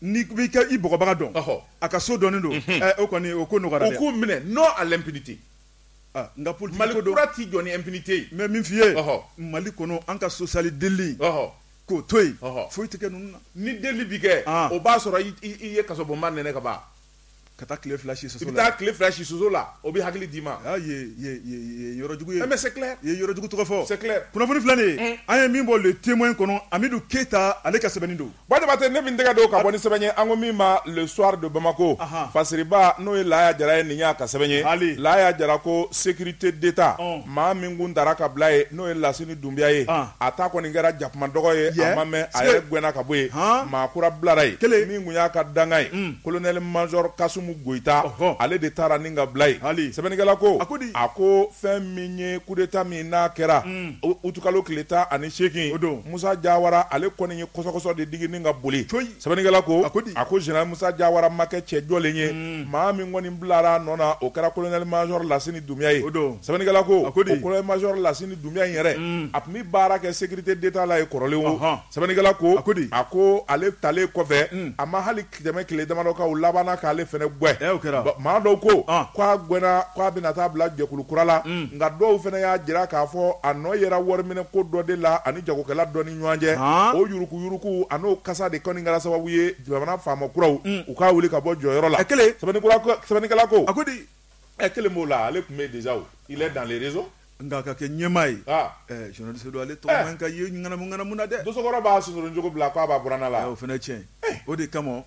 n'i b'i bɔgɔbaga dɔn a ka so dɔnnen don mhm. eh, o kɔni o ko nɔgɔyara k'u minɛ non à l'impunité Aa nka politique ko don, Mali kura tɛ jɔ ni impunité ye, n bɛ min f'i ye, ɔhɔ, Mali kɔnɔ an ka sosiyali delili, ɔhɔ, k'o to yen, ɔhɔ, foyi tɛ kɛ ninnu na, ni delili bɛ kɛ, an, o b'a sɔrɔ i ye kasobonba nɛnɛ ka ban, ka taa tile fila si soso la, i bɛ taa tile fila si soso la, o bɛ hakili d'i ma, aa ye ye ye yɔrɔ jugu ye, eh mais c'est clair i ye yɔrɔ jugu tɔgɔ fɔ, c'est clair kunnafoni filɛ nin ye, un, an ye min bɔ Le Témoin kɔnɔ Amidu Keyita ale ka sɛbɛnni don. Batɛ ne min tɛgɛ don ka bɔ ni sɛbɛn ye an ko min ma Le Soir de Bamako Fasiriba n'o ye Laya Jara ye nin y'a ka sɛbɛn ye hali Laya Jara ko sécurité d'Etat maa min kun tara ka bila ye n'o ye Lasini dunbiya ye a ta kɔni kɛra jakuma dɔgɔ ye a ma mɛn a yɛrɛ gɛnna ka bɔ ye maa kura bilara ye kelen min tun y'a ka dankan ye kolonɛli majɔr Kasumu Goyita ale de tara ni ka bila ye hali sɛbɛnnikɛla ko a ko a ko fɛn min ye coup d'Etat min n'a kɛra utukalo tile tan ani seegin o don Musa Jawara ale kɔni ye kɔsɔkɔsɔ de digi ni ka boli, coyi, sɛbɛnnikɛla ko, a ko di, a ko Zenerali Musa Jawara ma kɛ cɛ jɔlen ye, un, maa min kɔni bilara a nɔ na, o kɛra kolonɛli majɔr Lasini Dunbiya ye, o don, sɛbɛnnikɛla ko, a ko di, o kolonɛli majɔr Lasini Dunbiya in yɛrɛ, un, a tun bɛ baara kɛ sécurité d'Etat la yen kɔrɔlen wo, ɔnhɔn, sɛbɛnnikɛla ko, a ko di, a ko ale talen kɔfɛ, un, a ma hali tɛmɛ tile damadɔ kan u labanna k'ale fana gɛn maa dɔw ko k'a gɛnna k'a bɛna taa bila jɛkulu kura la nka dɔw fana y'a jira k'a fɔ a nɔ yera wariminɛko dɔ de la ani jagokɛla dɔ ni ɲɔgɔn cɛ o yuruku yuruku an'o kasa de kɔni kɛra sababu ye jamana faama kuraw u k'a wuli ka bɔ jɔyɔrɔ la kelen sɛbɛnnikɛla ko a ko di kelen b'o la ale tun bɛ déjà il est dans les réseaux Nka a ka kɛ ɲɛmaa ye Seydou ale tɔgɔ man kan ka ye ŋanamu na dɛ dosokɔrɔ b'a sonsoron cogo bila k'a b'a buran la o fana cɛ o de kama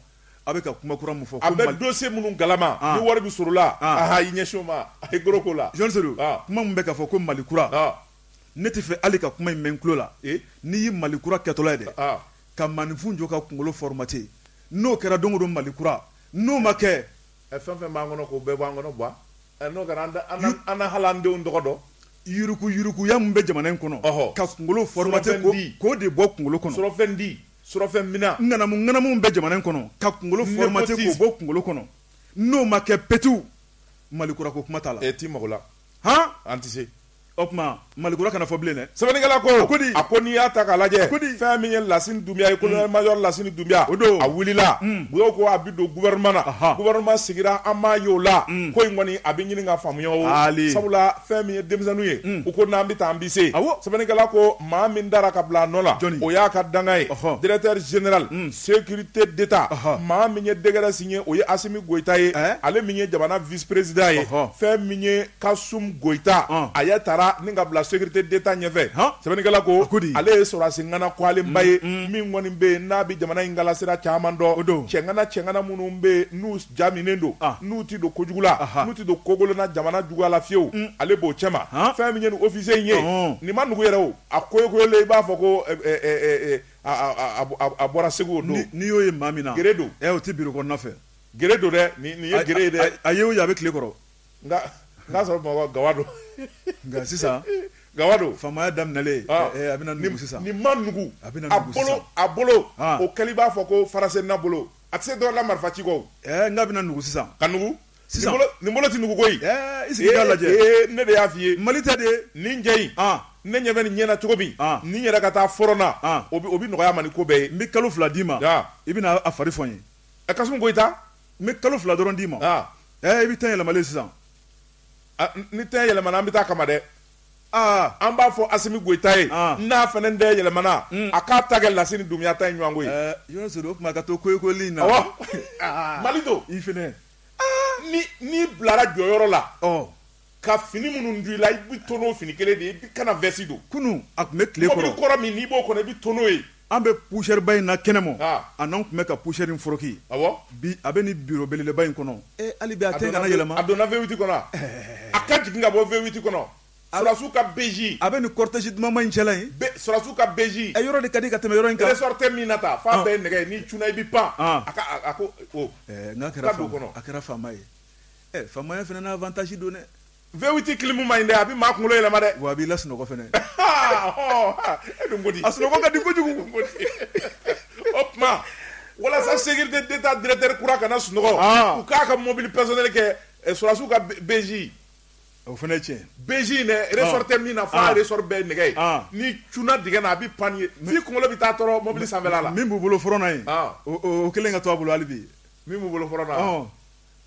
a bɛ ka kuma kura min fɔ a bɛ dossier minnu kalama ni wari bɛ sɔrɔ a la aa i ɲɛsin o ma a gko la Jean Seydou kuma min bɛ ka fɔ ko mali kura ne tɛ fɛ hali ka kuma in mɛn tulo la n'i ye mali kura kɛtɔla dɛ ka maninfin jɔ ka kunkolo formater n'o kɛra don o don mali kura n'o ma kɛ Ɛ fɛn fɛn b'an kɔnɔ k'o bɛɛ b'an kɔnɔ Buwa, ɛ n'o kɛra an tɛ an tɛ an tɛ hali an denw tɔgɔ dɔn, yuruku yurukuya min bɛ jamana in kɔnɔ, ɔhɔ, ka kunkolo formater ko k'o de bɔ kunkolo kɔnɔ, surɔfɛndi, surɔfɛnmina, ŋanamu ŋanamu min bɛ jamana in kɔnɔ ka kunkolo formater k'o bɔ kunkolo kɔnɔ, n'o ma kɛ petewu, Mali kurako kuma t'a la, e t'i mago la, han, an tɛ se O tuma malikura kana fɔ bilen dɛ sɛbɛnnikɛla ko ko di a ko n'i y'a ta k'a lajɛ ko di fɛn min ye Lasini Dunbiya ye mm. colonel major Lasini Dunbiya o don a wulila mm. Buyo ko a bi don gouvernement na gouvernement sigira an m'a ye o la mm. ko in kɔni a bɛ ɲini ka faamuya o sabula fɛn min ye denmisɛnninw ye u ko n'an bɛ taa an bɛ se sɛbɛnnikɛla ko maa min tara ka bila a nɔ la o y'a ka dankan ye directeur général sécurité d'état maa min ye décret signé o ye Asimi Goyita ye eh? ale min ye jamana vice président ye fɛn min ye Kasum Goyita, ɔn, ale tara ni ka bila sécurité d'Etat ɲɛfɛ, han, sɛbɛnnikɛla ko, a ko di, ale ye sɔrɔdasi ŋana kɔgɔlenba ye, un, min kɔni bɛ yen n'a bɛ jamana in kalasira caman dɔn, o don, cɛ ŋana cɛ ŋana minnu bɛ yen n'u ja minnen don, an, n'u tɛ don kojugu la, aha, n'u tɛ don kokolonna jamana juguya la fiyewu, un, ale b'o cɛma, han, fɛn min ye nin officier in ye, ɔnhɔn, nin ma nugu yɛrɛ o, a koyokoyolen i b'a fɔ ko ɛ ɛ ɛ ɛ a bɔra Segu o don, ni n'i y'o ye maa min na, guerrier don, ɛ o tɛ bureau kɔnɔna fɛ, guerrier don dɛ, nin ye guerrier ye dɛ, a ye o ye a bɛ tile kɔrɔ. sɔrɔ Bamakɔ gawa don nka sisan gawa don faamaya daminɛlen a bɛna nugu sisan nin ma nugu a bolo o kɛlen i b'a fɔ ko farasenna bolo a tɛ se dɔ la marifa ci kɔ nka a bɛna nugu sisan ka nugu sisan nin bolo tɛ nugu koyi i sigi k'a lajɛ ne de y'a fɔ i ye mali tɛ de nin cɛ in ne ɲɛ bɛ nin ɲɛ na cogo min ni yɛrɛ ka taa front na o bɛ nɔgɔya a ma ni ko bɛɛ ye n bɛ kalo fila d'i ma i bɛna a fari fɔ n ye ɛ kasum goyita n bɛ kalo fila dɔrɔn d'i ma aa ɛ i bɛ teint yɛlɛmalen sisan ni teint yɛlɛmana an bɛ taa a kama dɛ aa an b'a fɔ asimi goyita ye n'a fana teint yɛlɛmana a k'a ta kɛ lasini dunbiya ta ye ɲɔgɔn ko ye yɔrɔ sɔrɔ o tuma ka to koyokoyoli in na mali don i fana ni n'i bilara jɔyɔrɔ la ɔ ka fini minnu don i la i bɛ to n'o fini kelen de ye i kana vɛsi don kunun a tun bɛ tile kɔrɔ mɔbili kɔrɔ min n'i b'o kɔnɔ i bɛ to n'o ye an bɛ poussière ba in na kɛnɛma a n'an tun bɛ ka poussière in foroki bi a bɛ nin bureau belebeleba in kɔnɔ hali a tɛ kana yɛlɛma a donna V8 kɔnɔ a ka jigin ka bɔ V8 kɔnɔ sɔrɔdasiw ka BJ a bɛ ni cortège dumanba in cɛla in sɔrɔdasiw ka BJ a yɔrɔ de ka di ka tɛmɛ yɔrɔ in kan ressort tɛ min na ta f'a bɛɛ nɛgɛ n'i cunna i bɛ pan a ko n'a kɛra kɔnɔ a kɛra faama ye Ɛ faamaya fana na avantage don dɛ. V8 clim man ɲi dɛ, a bɛ maa kunkolo yɛlɛma dɛ. Wa a b'i la sunɔgɔ fana. E dun ko di? A sunɔgɔ ka di kojugu. O tuma walasa sécurité d'Etat directeur kura kana sunɔgɔ, u k'a ka mobili personnel kɛ sɔrɔdasiw ka BJ. O fana ye tiɲɛ ye. BJ in dɛ, ressort tɛ min na f'a ressort bɛɛ ye nɛgɛ ye. N'i cunna dingɛ na a bɛ pan ye f'i kunkolo bɛ taa tɔɔrɔ mobili sanfɛla la. Min b'u bolo front na yen, o kelen ka to a bolo hali bi. Min b'u bolo front na?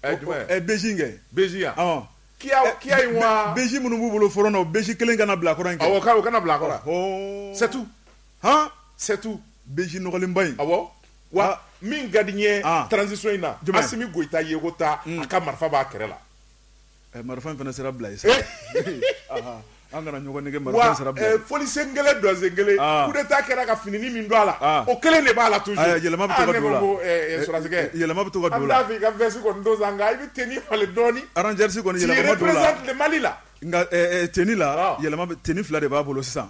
ɛ jumɛn ɛ BJ in kɛ BJ yan ɔn kiya eh, kiya in wa BJ minnu b'u bolo front na o BJ kelen kana bila kɔrɔ in kɛ awɔ ka o kana bila kɔrɔ ɔhɔn c'est tout han c'est tout BJ nɔgɔlenba in awɔ wa ah. min ka di n ye ah. transition in na asimi goyita yeko ta hmm. a ka marifa b'a kɛrɛ la Ɛ marifa in fana sera bila ye sa ee aa an kana ɲɔgɔn nɛgɛn marifaba in sera bila ye ɛ fɔlisen kelen dɔnsen kelen aa coup d'Etat kɛra ka finini min don a la aa o kelen de b'a la toujours aya yɛlɛma bɛ to ka don o la aa ne ko ko ɛ ɛ sɔrɔdasi kɛ yɛlɛma bɛ to ka don o la an t'a fɛ i ka veste kɔni don sa nka i bɛ tenue falen dɔɔni rangers kɔni yɛlɛma ma don o la tu représentes le Mali là nka ɛ ɛ tenue la ɔɔ yɛlɛma bɛ tenue 2 de b'a bolo sisan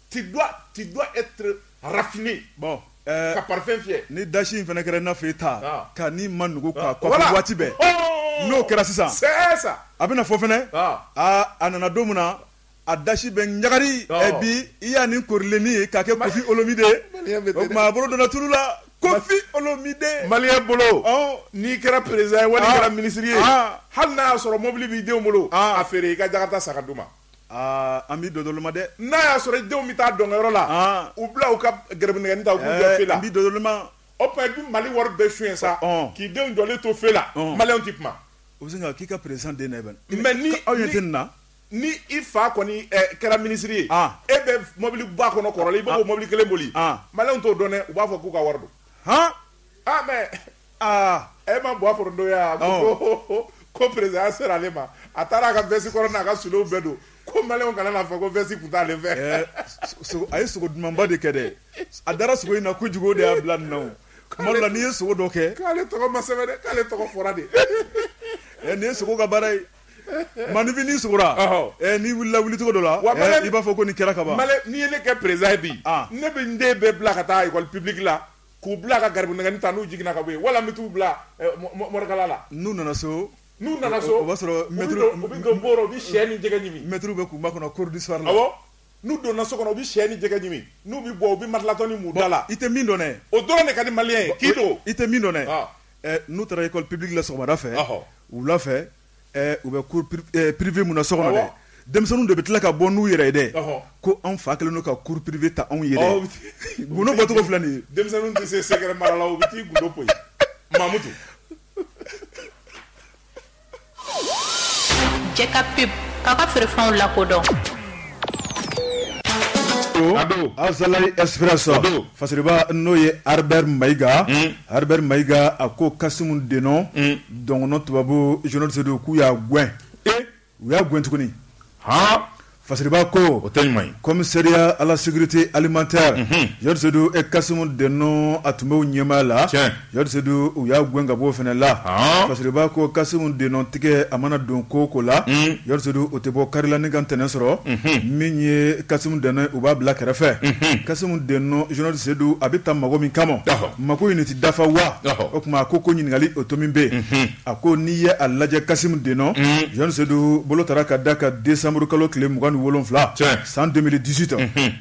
Tu dois, tu dois être raffiné. Bon. Euh, ka parfum fiyɛ ni dasi in fana kɛra i n'a fɔ i ta ah. ka ni ma nugu ka ah. kɔfɛ voilà. waati bɛɛ oh. n'o kɛra sisan c'est ça a bɛna fɔ fana ah. a a nana don min na a dasi bɛ ɲagari oh. eh, bi i y'a nin korilennin ye k'a kɛ kofi olomide o tuma a bolo donna tulu la kofi olomide maliyɛn bolo oh. n'i kɛra peresidan ye wali ah. kɛra minisiri ye ah. hali n'a y'a sɔrɔ mobili b'i denw bolo ah. a feere i ka jakarta san k'a d'u ma An bɛ don ma dɛ n'a y'a sɔrɔ i denw bɛ taa dɔnkɛyɔrɔ la u bila u ka gɛrɛ ta la o tuma i bɛ mali wari bɛɛ sonya sa k'i denw jɔlen to feu la maliyɛnw tɛ kuma u bɛ k'i ka peresidan mais ni aw ye den na ni i fa kɔni kɛra minisiri ye e bɛ mɔbili ba kɔnɔ kɔrɔlen i b'o mɔbili kelen boli maliyɛnw t'o dɔn dɛ u b'a fɔ k'u ka wari don mais Aa e ma bɔ fɔ don yan ko ko peresidanya sera ale ma a taara a ka vɛsi kɔrɔ n'a ka souliers bɛɛ don ko maliyɛnw kana n'a fɔ ko vɛsi tun t'ale fɛ a ye sogo dumanba de kɛ dɛ a dara sogo in na kojugu o de y'a bila nɔ la n'i ye sogo dɔ kɛ k'ale tɔgɔ ma sɛbɛn k'ale tɔgɔ fɔra de ɛ nin ye sogo ka baara ye maninfin' sogo n'i wulila wuli cogo dɔ la wa i b'a fɔ ko nin kɛra ka ban n'i ye ne kɛ peresidan ye bi ne bɛ n den bɛɛ bila ka taa pibila k'u bila ka garibu nɛgɛnin ta n'u jiginna ka bɔ yen wala n bɛ t'u bila eh, morikalan la n'u nana so n'u nana so o b'a sɔrɔ u bɛ don bɔrɔ u bɛ sɛ ni jɛgɛ ɲimi mɛtiriw bɛ k'u makɔnɔ cours du soir la n'u donna so kɔnɔ u bɛ sɛ ni jɛgɛ ɲimi n'u bɛ bɔ u bɛ matilatɔni mu u da la i tɛ min dɔn o dɔrɔn de ka di maliyɛn ye k'i don i tɛ min dɔn eh, n'u taara école publique la sɔgɔmada fɛ wula fɛ U bɛ ppife minɛ so kɔnɔ denmisɛnnin de bɛ tila ka bɔ n'u yɛrɛ ye dɛ ko anw fa kelen ka kuru ppife ta anw yɛrɛ cogo filɛ nin denmisɛnnin tɛ se sɛgɛrɛ mara la u bɛ t'i bolo koyi mamudu ka pe papa feere fɛnw la kodɔn azsira sa fa n'o ye arabu mayi mayi a ko kasi de Dɔn tubabu jɔn sedu k'u y'a gɛn u y'a gɛn tuguni fasiriba ko o tɛ ɲuman ye commissariat à la sécurité alimentaire jɔn sedu kasimu dɛnɔ a tun b'o ɲɛmaaya la jɔn sedu u y'a gɛn ka bɔ o fana la fasiriba ko kasimu dɛnɔ tigɛ a mana don ko o ko la jɔn sedu o tɛ bɔ kari la ni ka ntɛnɛn sɔrɔ min ye kasimu dɛnɔ u b'a bila kɛrɛfɛ kasimu dɛnɔ jɔn sedu a bɛ taa mago min kama Mago in tɛ dafa wa o tuma a ko ko ɲininkali o to min bɛ yen a ko n'i ye a lajɛ kasimu dɛnɔ jɔn sedu bolo taara ka da ka desanburukalo tile mugan ni wolonwula san deux mille dix-huit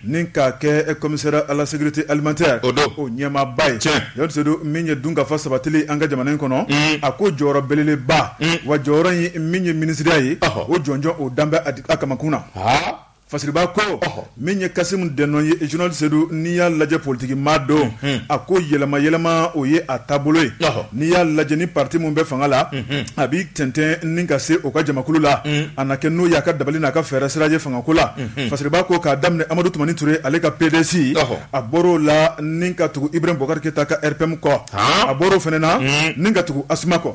ni k'a kɛ commissaire à la sécurité alimentaire o ɲɛmaaba ye jɔn sedu min ye dunkafa sabatili an ka jamana in kɔnɔ a ko jɔyɔrɔ belebeleba wa jɔyɔrɔ in min ye minisiriya ye o jɔnjɔn o danbe a di a kamakun na Fasiriba ko min ye kasimu dɛnɔ ye jɔn sedu n'i y'a lajɛ politikimaa don a ko yɛlɛma yɛlɛma o ye a taabolo ye n'i y'a lajɛ ni pati min bɛ fanga la a b'i tɛntɛn ni ka se o ka jamakulu la a na kɛ n'o y'a ka dabali n'a ka fɛɛrɛ sira ye fangako la fasiriba ko k'a daminɛ amadu tumani ture ale ka PDES a bɔr'o la ni ka tugu ibrahim bokari keyita ka RPM kɔ a bɔra o fana na ni ka tugu ASMA kɔ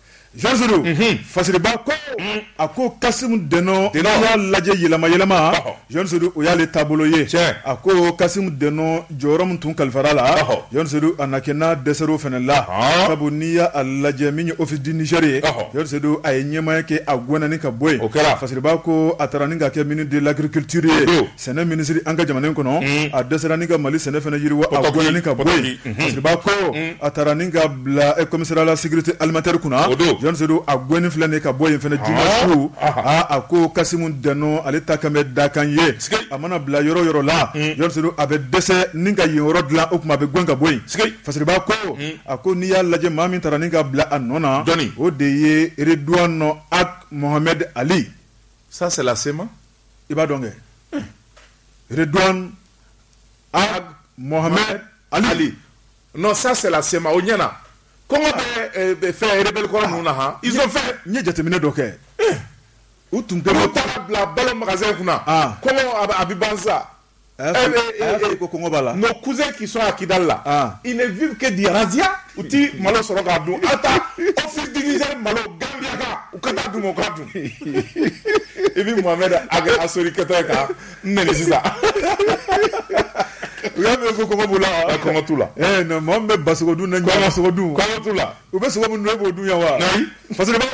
Jɔn sedu fasiriba ko a ko kasimu dɛnɔ y'a lajɛ yɛlɛma yɛlɛma jɔn sedu o y'ale taabolo ye a ko kasimu dɛnɔ jɔyɔrɔ min tun kalifar'a la jɔn sedu a na kɛ n'a dɛsɛr'o fana la sabu n'i y'a lajɛ min ye office du niger ye jɔn sedu a ye ɲɛmaaya kɛ a gɛnna ka bɔ yen fasiriba ko a taara ni ka kɛ ministre de l'agriculture ye sɛnɛ minisiri an ka jamana kɔnɔ mm. a dɛsɛra ni ka mali sɛnɛ fana yiriwa a gɛnna ka bɔ yen mm-hmm. fasiriba ko mm. a taara ni ka bila eh, commissariat à la sécurité alimentaire kunna jɔn sedu a gɛnni filɛ nin ka bɔ yen fana juma ah. su ah, ah. a a ko kasimu dɛnɔ ale ta kan bɛ dakan ye a mana bila yɔrɔ yɔrɔ la mm. jɔn sedu a bɛ dɛsɛ ni ka yen yɔrɔ dilan o tuma a bɛ gɛn ka bɔ yen fasiriba ko a ko n'i y'a lajɛ maa min taara ni ka bila a nɔ na o de ye reduwanɔ ag mohamɛd ali ça c'est la sema i b'a dɔn kɛ Redouane Ag Mohamed Ali non ça c'est la CMA o ɲɛna kɔngɔ bɛ fɛn rebelle kɔrɔ ninnu na ah ils ont faim n ye jateminɛ dɔ kɛ u tun tɛ bila balo magasin kunna kɔngɔ a bɛ ban sa a y'a sɔrɔ ko kɔngɔ b'a la nos cousins qui sont à Kidal là ah. ils ne vivent que de razzia u ti malo sɔrɔ k'a dun aw taa office du Niger malo Gambiaka u ka taa dun o k'a dun i bɛ Mohamed Ag Assory kɛtɔ ye ka n nɛni sisan u y'a mɛn ko kɔngɔ b'u la wa kɔngɔ t'u la eh non mɔgɔ min bɛ basogo dun na kɔngɔ sogo dun kɔngɔ t'u la u bɛ sogo min dun e b'o dun yan wa fasiriba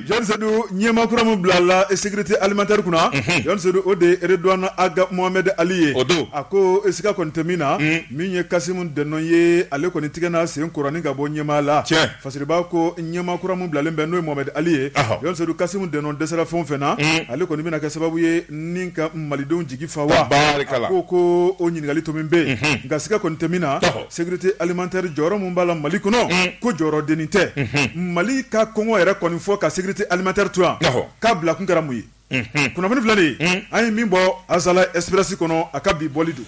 Jean Seydou ɲɛmakura min bila la sécurité alimentaire kunna Jean Seydou o de ye Redouane Ag Mohamed Ali ye o don a ko e sika kɔni tɛ min na min ye Kassoum Denon ye ale kɔni tigɛn'a sen kɔrɔ nin ka bɔ ɲɛmaa la cɛ fasiriba ko ɲɛmakura min bilalen bɛ n'o ye Mohamed Ali ye Jean Seydou Kassoum Denon dɛsɛra fɛn o fɛn na ale kɔni bɛna kɛ sababu ye ni ka malidenw jigi fa wa ko ko o ɲininkakali tomi bɛ yen nka sika kɔni tɛ min na Sécurité alimentaire jɔyɔrɔ min b'a la Mali kɔnɔ, un, ko jɔyɔrɔ dennin tɛ, unhun, Mali ka kɔngɔ yɛrɛ kɔni fɔ ka sécurité alimentaire to yan, awɔ, k'a bila kun kɛra mun ye, unhun, kunnafoni filɛ nin ye, un, an ye min bɔ Azalaï Express kɔnɔ a ka bi bɔli don.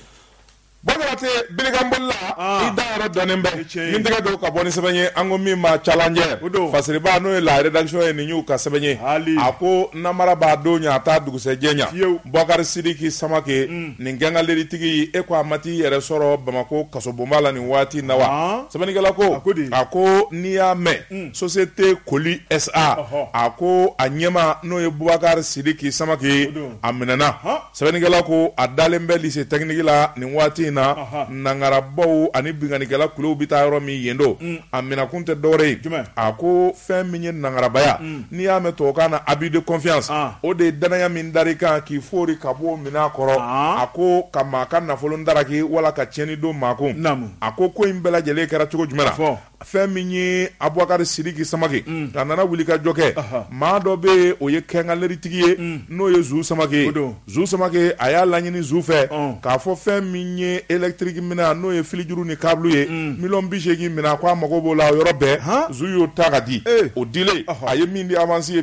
Bon Jabate, bilikanbolila, an, i da yɔrɔ dɔnnen bɛ, o ye tiɲɛ ye, n tɛgɛ don ka bɔ ni sɛbɛn ye an ko min ma Challenger, o don, fasiriba n'o ye la rédaction ye nin y'u ka sɛbɛn ye, haali, a ko namara b'a don ɲɛ a t'a dugusɛjɛ ɲɛ, fiyewu, Bukari Sidiki Samake, un. Nin quincaillerie tigi e ko a ma t'i yɛrɛ sɔrɔ bamakɔ kasobonba la nin waati na wa sɛbɛnnikɛla ko a ko n'i y'a mɛn société Koli SA a ko a ɲɛmaa n'o ye Bubakari Sidiki Samake a minɛna sɛbɛnnikɛla ko a dalen bɛ lycée technique la nin waati in na nangarabaw ani binkanikɛla kulu bɛ taa yɔrɔ min yen don a minɛkun tɛ dɔwɛrɛ ye a ko fɛn min ye nangarabaya n'i y'a mɛn tubabukan na abus de confiance ah. o de ye danaya min dar'i kan k'i foori ka bɔ minɛn kɔrɔ ah. a ko ka maa ka nafolo daraki wala ka tiɲɛni don maa kun a ko ko in bɛɛ lajɛlen kɛra cogo jumɛn na fɛn min ye abubakari sidiki samake mm. a nana wuli ka jɔ kɛ maa dɔ bɛ yen o ye quincaillerie tigi ye mm. n'o ye zu samake ye Zu Samake a y'a laɲini Zu fɛ k'a fɔ fɛn min ye électrique minɛn n'o ye filijuru ni câble ye miliyɔn bi seegin minɛn ko a mago b'o la o yɔrɔ bɛɛ Zu y'o ta ka di o dilen a ye min di avance ye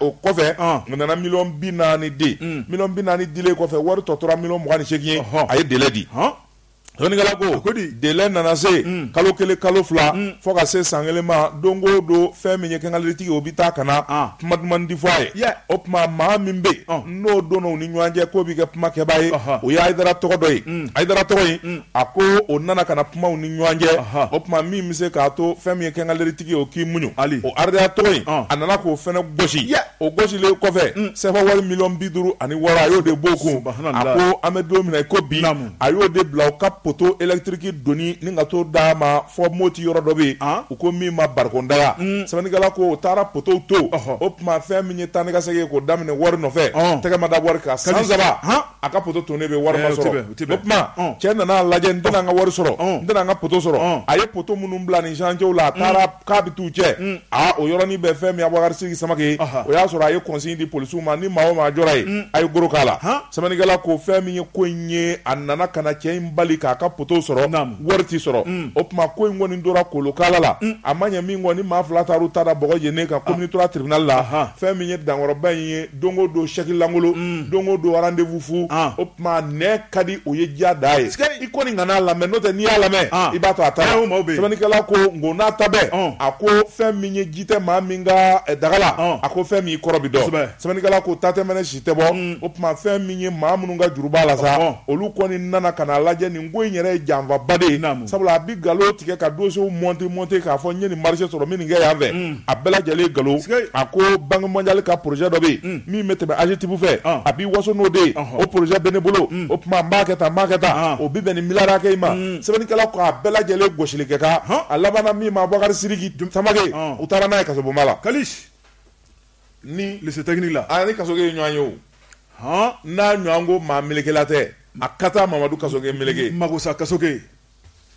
o kɔfɛ o nana miliyɔn bi naani di miliyɔn bi naani dilen kɔfɛ wari tɔ tora miliyɔn mugan ni seegin ye a ye délai di. délai nana se kalo kelen kalo fila fo ka se san kelen ma don o don fɛn min ye quincaillerie tigi o bɛ taa ka na kuma duman di fɔ a ye o tuma maa min bɛ yen n'o donna u ni ɲɔgɔn cɛ k'o bɛ kɛ kumakɛbaa ye o ye Ayidara tɔgɔ dɔ ye Ayidara tɔgɔ in a ko o nana ka na kuma u ni ɲɔgɔn cɛ o tuma min bɛ se k'a to fɛn min ye quincaillerie tigi o k'i muɲu o Ayidara tɔgɔ in a nana k'o fana gosi o gosilen kɔfɛ sɛfa wari miliyɔn bi duuru ani wɔɔrɔ a y'o de b'o kun an bɛ don min ko bi a y'o de bila u ka poto électrique doni ni ka t'o d'a ma fo Moti yɔrɔ dɔ bɛ ah. u ko min ma Barikondaga mm. sɛbɛnnikɛla ko u taara potow to o tuma fɛn min ye taa ni ka segin k'o daminɛ wari nɔfɛ oh. tɛgɛ ma da wari kan san saba a ka poto tonnen bɛ wari ma eh, sɔrɔ o tuma oh. cɛ nana lajɛ n tɛna an ka wari sɔrɔ oh. n tɛna an ka poto sɔrɔ a ye poto minnu bila nin chantier la a taara k'a bɛ t'u cɛ mm. aa o yɔrɔnin bɛɛ fɛn min Abubakari Sidiki Samake ye o y'a sɔrɔ a ye consigne di polisiw ma ni maa o maa jɔra yen mm. a ye goro k'a la sɛbɛnnikɛla ko fɛn min ye ko in ye a nana ka na cɛ in bali k'a ka poto sɔrɔ wari ti sɔrɔ mm. o tuma ko in kɔni tora kolokala la a ma ɲɛ min kɔni maa fila taar'u ta da bɔgɔ jennen kan commune trois tribunal la fɛn min ye dankɔrɔba in ye don o don chèque lankolon mm. don o don rendez-vous fu ah. o tuma nɛn ka di o ye diya da ye i kɔni kana lamɛn n'o tɛ n'i y'a lamɛn ah. i b'a to a ta sɛbɛnnikɛla ko nko n'a ta bɛɛ ah. a ko fɛn min ye ji tɛ maa min ka eh, daga la a ko fɛn min kɔrɔ bi dɔn sɛbɛnnikɛla ko ta tɛ mɛnɛ si tɛ bɔ mm. o tuma fɛn min ye maa minnu ka juru b'a la sa olu kɔni nana ka na lajɛ nin ko in yɛrɛ ye janfaba de ye sabula a bi nkalon tigɛ ka dossiers monter monter k'a fɔ n ye nin marché sɔrɔ min nin kɛ yan fɛ mm. a bɛɛ lajɛlen nkalon a ko banque mondiale ka projet dɔ bɛ yen mm. min bɛ tɛmɛ AGETIP fɛ ah. a b'i waso n'o de ye o projet bɛ ne bolo mm. o tuma n b'a kɛ tan n b'a kɛ tan ah. o bɛ bɛn nin miliyari hakɛ in ma mm. sɛbɛnnikɛla ko a bɛɛ lajɛlen gosili kɛ kan a labanna min ma Abubakari Sidiki Samake ah. u taara n'a ye kasobonba la ni lycée technique la a ni Kasoge ye ɲɔgɔn ye o n'a ɲɔgɔn ko maa melekela tɛ a ka taa Mamadu Kasoge meleke Magosa Kasoge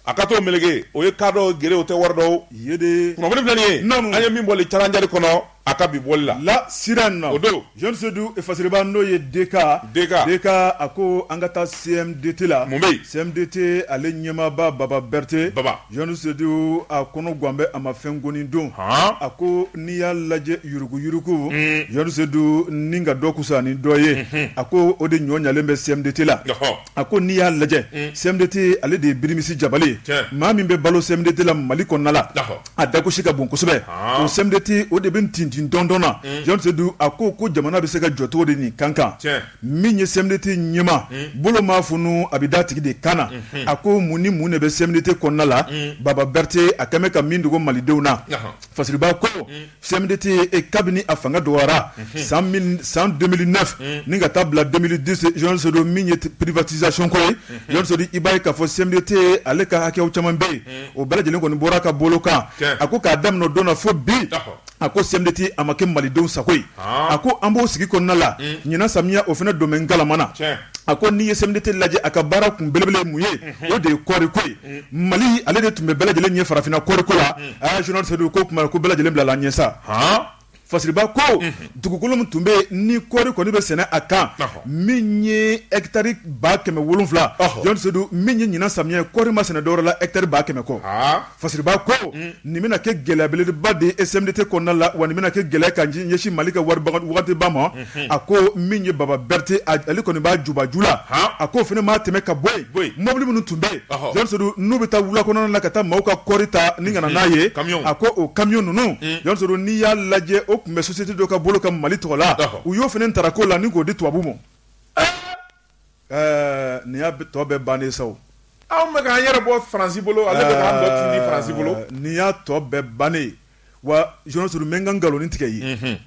a ka t'o meleke o ye ka dɔ gere o tɛ wari dɔw ye de kunnafoni filɛ nin ye an ye min bɔ Challenger kɔnɔ a ka bi bɔli la La Sirène o don Jean Sedu fasiriba n'o ye DK DK a ko an ka taa CMDT la mun bɛ CMDT ale ɲɛmaaba Baba Berete Jean Sedu a kɔnɔ gannen bɛ a ma fɛn goni don a ko n'i y'a lajɛ yuruguyurugu Jean Sedu ni ka dɔ kusa ni dɔ ye a ko o de ɲɔ ɲalen bɛ CMDT la a ko n'i y'a lajɛ mm. CMDT ale de ye birimisi jabali ye maa min bɛ balo CMDT la Mali kɔnɔna la a dagosi ka bon kosɛbɛ ah. o CMDT o de bɛ tintin dɔndɔn na mm. Jean Sedu a ko ko jamana bɛ se ka jɔ cogo di nin kan kan min ye CMDT ɲɛmaa mm. bolo maa funu a bɛ d'a tigi de kan na mm-hmm. a ko mun ni mun de bɛ CMDT kɔnɔna la Baba Berete a kɛn bɛ ka min dogo Malidenw na fasiriba ko CMDT kabini a fanga dɔgɔyara san 2009 ni ka taa bila 2010 Jean Seydou min ye privatisation ko ye Jean Seydou i b'a ye k'a fɔ CMDT ale ka hakɛw caman bɛ yen o bɛɛ lajɛlen kɔni bɔra a ka bolo kan a ko k'a daminɛ o don na fo bi a ko CMDT a ma kɛ malidenw sago ye a ko an b'o sigi kɔnɔna la ɲinan samiya o fana don bɛ ngalama na a ko n'i ye CMDT lajɛ a ka baara kun belebele mun ye o de ye kɔɔri ko ye. Mali ale de tun bɛ bɛɛ lajɛlen ɲɛ farafinna kɔɔriko la a Jean Seydou ko kuma ko bɛɛ lajɛlen bila la ɲɛ sa Fasiriba ko dugukolo min tun bɛ yen ni kɔɔri kɔni bɛ sɛnɛ a kan min ye hectare ba kɛmɛ wolonwula Jean Seydou min ye ɲinan samiya kɔɔri ma sɛnɛ dɔwɛrɛ la hectare ba kɛmɛ kɔ Fasiriba ko nin bɛna kɛ gɛlɛya belebeleba de ye CMDT kɔnɔna la wa nin bɛna kɛ gɛlɛya ka ɲɛsin mali ka wari waati ba ma a ko min ye baba berete ale kɔni b'a jubaju la a ko fana maa tɛmɛ ka bɔ yen mɔbili minnu tun bɛ yen Jean Seydou n'u bɛ taa wula kɔnɔna la ka taa maaw ka kɔɔri ta ni ka na n'a ye a ko o camion ninnu Jean Seydou n'i y'a lajɛ o tun bɛ société dɔ ka bolo kan Mali tɔgɔ la u y'o fana taara ko la ni k'o di tubabu ma Ɛɛ nin y'a tɔ bɛɛ bannen sa o. Anw bɛ k'an yɛrɛ bɔ France bolo ale bɛ k'an tɔ tindi France bolo. Ɛɛ nin y'a tɔ bɛɛ bannen ye wa Jean Seydou n bɛ n ka nkaloni tigɛ i ye. Unhun.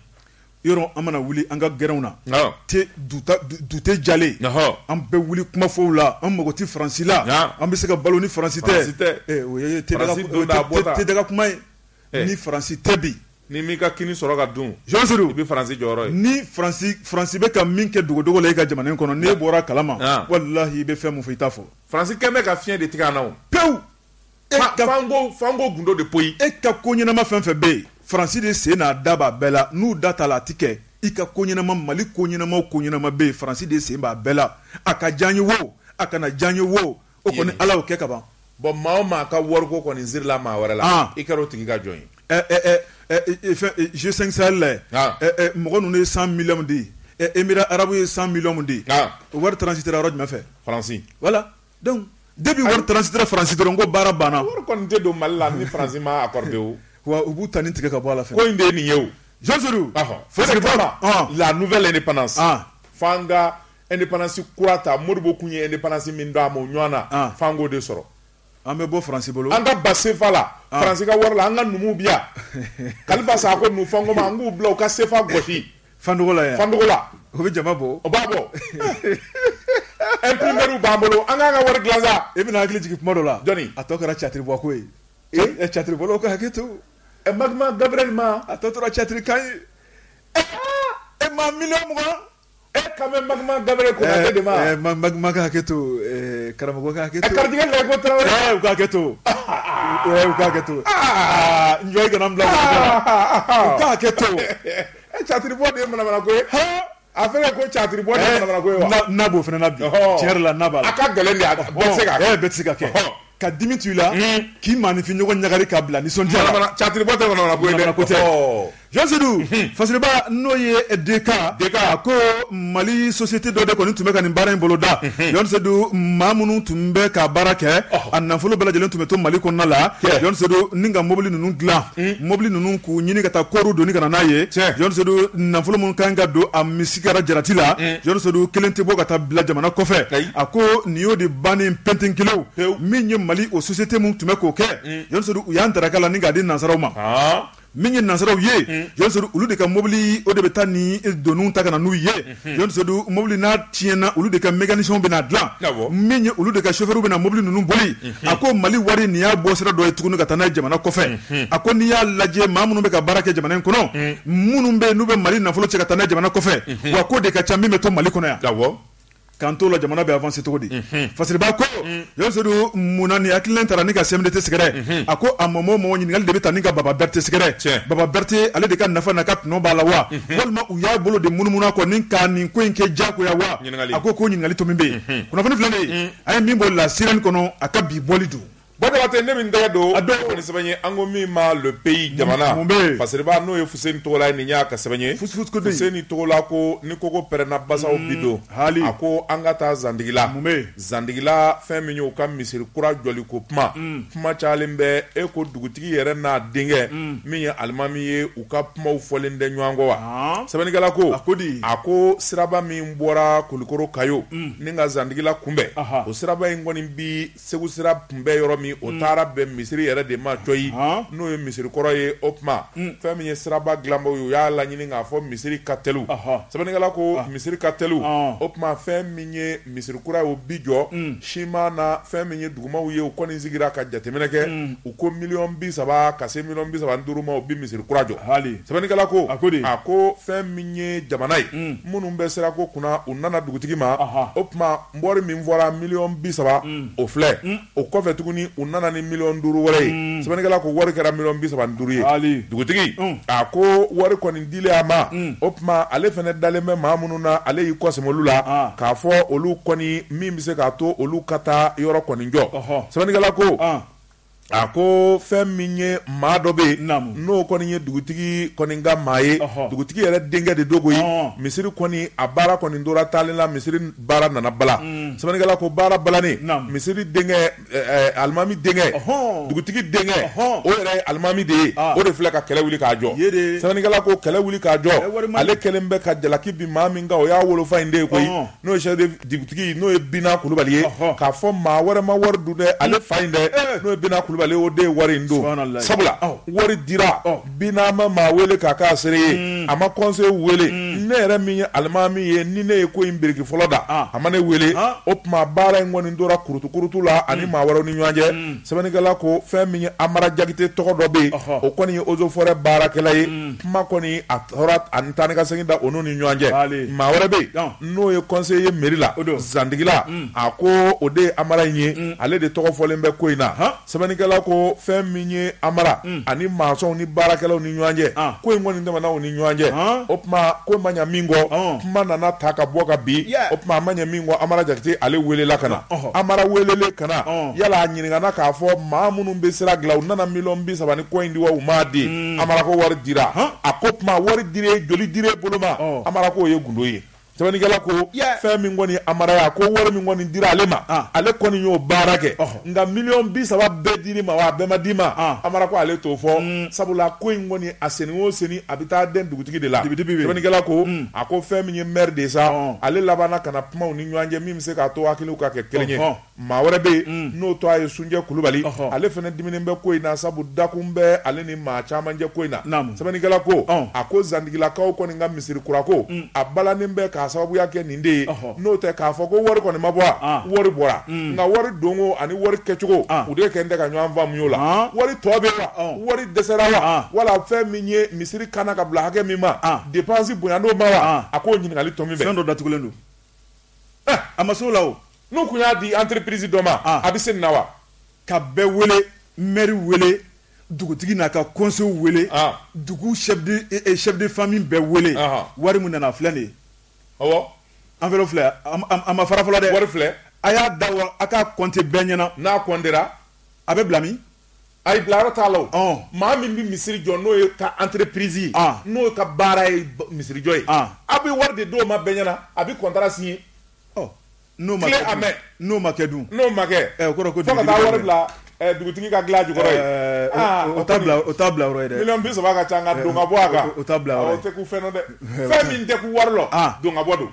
Yɔrɔ an mana wuli an ka gɛrɛnw na. Awɔ. Te dute jalen. Ɔhɔ! An bɛ wuli kuma fɔw la, an mago tɛ France la. Haa! An bɛ se ka balo ni France tɛ. France tɛ. Ee o ye te daga kuma ye. France don da a bɔ da. Te daga kuma ye. Ɛɛ! Ni France tɛ bi. N'i m'i ka kini sɔrɔ ka dun, Jean Seydou, i bɛ Faransi jɔyɔrɔ ye. Ni Faransi Faransi bɛ ka min kɛ dogodogo la e ka jamana in kɔnɔ, n'e bɔra a kalama, an, walahi i bɛ fɛn min fɔ i t'a fɔ. Faransi kɛn bɛ ka fiɲɛ de tigɛ an na o. Pewu! Fo an k'o gundo de poyi. E ka ko ɲɛnama fɛn fɛn bɛ yen, Faransi de sen n'a da b'a bɛɛ la. N'u da t'a la, a tɛ kɛ. I ka ko ɲɛnama, Mali ko ɲɛnama o ko ɲɛnama bɛ yen, Faransi de sen b'a bɛɛ la. A ka diya an ye wo, a kana diya an ye wo, O kɔni ala y'o kɛ ka ban bɔn maa maa ka wari ko kɔni sirila maa wɛrɛ la i ka o tigi ka jɔn yesenla mɔgɔ ninnu ye san mi de ye e mi arabu ye san mi de o wari tsi yɔrɔ jumɛnfɛ faransi wala debi wari tsi faransi dɔrɔn ko baara banna tɛ don mali la niransi ma wa u b'u tan ni tigɛ ka bɔ la fɛ ko in de nin ye o jɔnse fo la ni pan indépendance kura ta Modibo tun ye indépendance min d'an ma o ɲɔgɔn na f'an k'o de sɔrɔ an bɛ bɔ faransi bolo an ka bɔ sefa la faransi ka wari la an ka numu bɛ yan Kalifa Sako nu fanko ma an k'u bila u ka sefa gosi fanla fanla u bɛ jama bɔ o b'a bɔ imprimeur b'an bolo an k'an ka wari dilan sa e bɛna hakili jigin kuma dɔ la dɔɔnin a tɔ kɛra catiri bɔ ko ye e catiri bɔlaw ka hakɛ to ɛ Magma Gabriel ma a tɔ tora catiri kan ye e ma mi mugan E ka bɛ ma daɛrɛ ko de makɛ hakɛ to karamɔgɔkɛ hakɛ to kake to kake to kake to e catiriri bɔ de mana ko a fɛ ko catiriri bɔ ko na fana na la ka gɛlɛn bɛ se ka kɛ ka dimi to i la k'i maaninfin ɲɔgɔn ɲagari k'a bila nisɔndiya la catiribɔ tɛ manamana ko ye dɛ ko tɛ Jean Seydou fasiriba n'o ye DK a ko mali société dɔ de kɔni tun bɛ ka nin baara in boloda Jean Seydou maa minnu tun bɛ ka baara kɛ a nafolo bɛɛ lajɛlen tun bɛ to mali kɔnɔna la Jean Seydou ni ka mobili ninnu dilan mobili ninnu k'u ɲini ka taa kɔɔriw doni ka na n'a ye Jean Seydou nafolo minnu kan ka don a misi tigɛra jarati la Jean Seydou kelen tɛ bɔ ka taa bila jamana kɔfɛ a ko nin y'o de bannen pɛntɛnkɛlɛn min ye mali o société min tun bɛ k'o kɛ Jean Seydou u y'an daraka la ni k'a di nansaraw ma min ye nansaraw ye Jean Seydou olu de ka mobili o de bɛ taa ni doniw ta ka na n'u ye Jean Seydou mobili n'a tiɲɛna olu de ka mécaniciens bɛn'a dilan min ye olu de ka chauffeurs bɛna na mobili ninnu boli a ko mali wari nin y'a bɔ sira dɔ ye tuguni ka taa n'a ye jamana kɔfɛ a ko n'i y'a lajɛ maa minnu bɛ ka baara kɛ jamana in kɔnɔ minnu bɛ yen n'u bɛ mali nafolo cɛ ka taa n'a ye jamana kɔfɛ wa ko de ka ca min bɛ to mali kɔnɔ yan k'an to la jamana bɛ avancer cogo di fasiriba ko Jean Seydou munna ni hakilina taara ni ka CMDT sɛgɛrɛ a ko a ma mɔ ɲininkali de bɛ taa ni ka baba berete sɛgɛrɛ baba berete ale de ka nafa n'a ka tɔnɔ b'a la wa walima u y'a bolo de munumunu a kɔ ni ka nin ko in kɛ diyagoya wa a ko ɲininkali tɔ min bɛ yen kunnafoni filɛ de a ye min bɔ La Sirène kɔnɔ a ka bi bɔli don Badabatɛ ne min tɛgɛ don, a don, o ye sɛbɛn ye an ko min ma le pays jamana, mun bɛ yen, Fasiriba n'o ye Fuseni Togola ye nin y'a ka sɛbɛn ye, fusufusukoden, Fuseni Togola ko ni koko pɛrɛnna basaw bi don, haali, a ko an ka taa Zantigila, mun bɛ yen, Zantigila fɛn min y'u ka misiri kura jɔli ko kuma, kuma cayalen bɛ yen ko dugutigi yɛrɛ n'a denkɛ min ye alimami ye u ka kumaw fɔlen tɛ ɲɔgɔn kɔ wa, sɛbɛnnikɛla ko, a ko di, a ko siraba min bɔra Kulikoro Kayo Ni ka zantigila kunbɛn o siraba in kɔni bɛ segu sira kunbɛn yɔrɔ min o taara bɛn misiri yɛrɛ de ma cɔyi n'o ye misirikɔrɔ ye o tuma fɛn min ye siraba dilanbaw ye u y'a laɲini k'a fɔ misiri ka teli sɛbɛnnikɛla ko misiri ka teli o tuma fɛn min ye misirikura ye o bi jɔ siman na fɛn min ye dugumaw ye u kɔni sigira ka jateminɛ kɛ u ko miliyɔn bi saba ka se miliyɔn bi saba ni duuru ma u bɛ misiri kura jɔ sɛbɛnnikɛla ko a ko a ko fɛn ye jamana ye minnu bɛ sira ko kunna u nana dugutigi ma o tuma wari min fɔra miliyɔn bi saba o filɛ o kɔfɛ tuguni u nana ni miliyɔn duuru wɛrɛ ye sɛbɛnnikɛla ko wari kɛra miliyɔn bi saba ni duuru ye dugutigi a ko wari kɔni dilen a ma o tuma ale fana dalen bɛ maa minnu na ale y'i kɔ sɛmɛ olu la k'a fɔ olu kɔni min bɛ se k'a to olu ka taa yɔrɔ kɔni jɔ sɛbɛnnikɛla ko A ko fɛn min ye maa dɔ bɛ yen n'o kɔni ye dugutigi kɔni ka maa ye dugutigi yɛrɛ denkɛ de don koyi misiri kɔni a baara kɔni tora taalen la misiri baara nana bala sɛbɛnnikɛla ko baara balanen misiri denkɛ alimami denkɛ dugutigi denkɛ o yɛrɛ ye alimami de ye o de filɛ ka kɛlɛ wuli k'a jɔ sɛbɛnnikɛla ko kɛlɛ wuli k'a jɔ ale kɛlen bɛ ka jalaki bin maa min kan o y'a wolofa in de ye koyi n'o ye chef de dugutigi n'o ye Bina Kulubali ye, ɔhɔ, k'a fɔ maa wɛrɛ ma wari dun dɛ, ale fa in dɛ, ee, n'o ye Bina Kulubali ye, o de ye wari in dun, subahanallahi, sabula, ɔ, wari dira, ɔ, Bina ma maa wele k'a k'a seere ye, un, a ma conseil wele, un, ne yɛrɛ min ye alimami ye, ni ne ye ko in biriki fɔlɔ da, an, a ma ne wele, an, o tuma baara in kɔni tora kurutu-kurutu la ani maa wɛrɛw ni ɲɔgɔn cɛ, un, sɛbɛnnikɛla ko fɛn min ye Amara Jakite tɔgɔ dɔ bɛ yen, ɔhɔ, o kɔni ye eaux et forêts baarakɛla ye, un, kuma kɔni a ani taa ni ka segin da u ni ɲɔgɔn cɛ maa wɛrɛ bɛ yen n'o ye conseiller ye mairie la zantigila mm. a ko o de ye amara in ye mm. ale de tɔgɔ fɔlen bɛ ko in na sɛbɛnnikɛla ko fɛn min ye amara mm. ani masɔnw ni baarakɛlaw ni ɲɔgɔn cɛ ah. ko in kɔni tɛmɛna u ni ɲɔgɔn cɛ ah. o tuma ko ma ɲɛ min kɔ ah. kuma nana ta ka bɔ ka bin o tuma a ma ɲɛ min kɔ amara jakite ale welela ka na amara welelen ka na yala a ɲininkana k'a fɔ maa minnu bɛ sira dilan u nana miliyɔn bi saba ni kɔ in di wa u m'a di mm. amara ko wari dira a ko o tuma wari dira joli dir'i bolo ma oh. amara k'o ye gundo ye sɛbɛnnikɛla ko fɛn min kɔni amara a ko wari min kɔni dira ale ma ah. ale kɔni y'o baara kɛ oh. nka miliyɔn bi saba bɛɛ dir'i ma wa a bɛɛ ma d'i ma ah. amara ko ale t'o fɔ mm. sabula ko in kɔni a senni o senni a bɛ taa den dugutigi de la sɛbɛnnikɛla ko mm. a ko fɛn min ye mɛri de sa oh. ale labanna ka na kuma u ni ɲɔgɔn cɛ min bɛ se k'a to hakiliw ka kɛ kelen ye Maa wɛrɛ bɛ yen n'o tɔgɔ ye sunjɛ kulubali ale fana diminen bɛ ko in na sabu dakun bɛ ale ni maa caman cɛ ko in na sɛbɛnnikɛla ko a ko zantigilakaw kɔni ka misiri kura ko a balanen bɛ k'a sababuya kɛ nin de ye n'o tɛ k'a fɔ ko wari kɔni ma bɔ wari bɔra nka wari donko ani wari kɛcogo u de kɛlen tɛ ka ɲɔgɔn faamu o la wari tɔ bɛ wa wari dɛsɛra wa wala fɛn min ye misiri kana ka bila hakɛ min ma dépense bonyayan'o ma wa a ko ɲininkali tɔ min bɛ fɛn dɔ datugulen don eh, a ma s'o la o n'u kun y'a di entreprise dɔ ma ah. a bɛ se nin na wa ka bɛɛ wele mɛri wele dugutigi n'a ka conseil wele ah. dugu chef de eh, eh, chef de famille bɛɛ wele ah. wari min nana filɛ nin ye awɔ enveloppe filɛ a ma fara fɔlɔ dɛ wari filɛ a y'a da waa a k'a compter bɛɛ ɲɛna n'a comptera a bɛ bila min ayi bilayɔrɔ t'a la o maa min bɛ misiri jɔ n'o ye ka entreprise ye n'o ka baara ye misirijɔ ye a bɛ wari de d'o ma bɛɛ ɲɛna a bɛ contrat signer n'o ma kɛ dun n'o ma kɛ dun n'o ma kɛ ɛ o kɔrɔ ko fo ka taa wari bila dugutigi ka dilan jukɔrɔ yen o t'a bila o t'a bila yɔrɔ ye dɛ miliyɔn bi saba ka ca nka don ka bɔ a kan o t'a bila yɔrɔ ye o tɛ kun fɛn na dɛ fɛn min tɛ kun wari la don ka bɔ don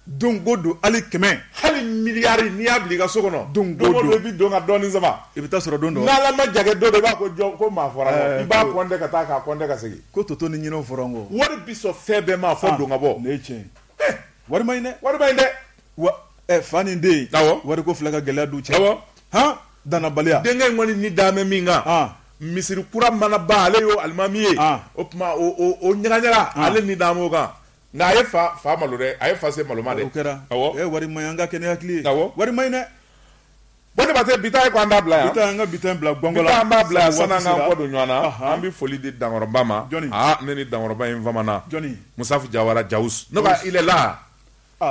Don ko don hali kɛmɛ hali miliyari n'i y'a bila i ka so kɔnɔ don ko don i bɛ don ka dɔɔnin sama i bɛ taa sɔrɔ don dɔ n'ala ma jagɛ don i b'a ko jɔn ko maa fɔra i b'a kɔnte ka taa k'a kɔnte ka segin ko toto ni ɲinɛw fɔra n kɔ wari bi sɔn fɛn bɛɛ ma fo don ka bɔ ne tiɲɛ wari ma ɲi dɛ wari ma ɲi dɛ fa ni den wari ko filɛ ka gɛlɛya du cɛ hɔn dannabaliya denkɛ in kɔni ni daamɛ min kan misiri kura mana ban ale y'o alimami ye o tuma o ɲagaɲaga ale ni daamɛ o kan Nka a ye fa fa malo dɛ a ye fa se malo ma dɛ kɛra wari ma ɲi an ka kɛ ni hakili ye wari ma ɲi dɛ ba tɛ bi ta ye ko an t'a bila yan an ka bi ta bila an b'a bila yan sanni an k'an kɔ don ɲɔgɔn na an bɛ foli di dankɔrɔba ma ne ni dankɔrɔba in famana musafu jawara jawus ne il est là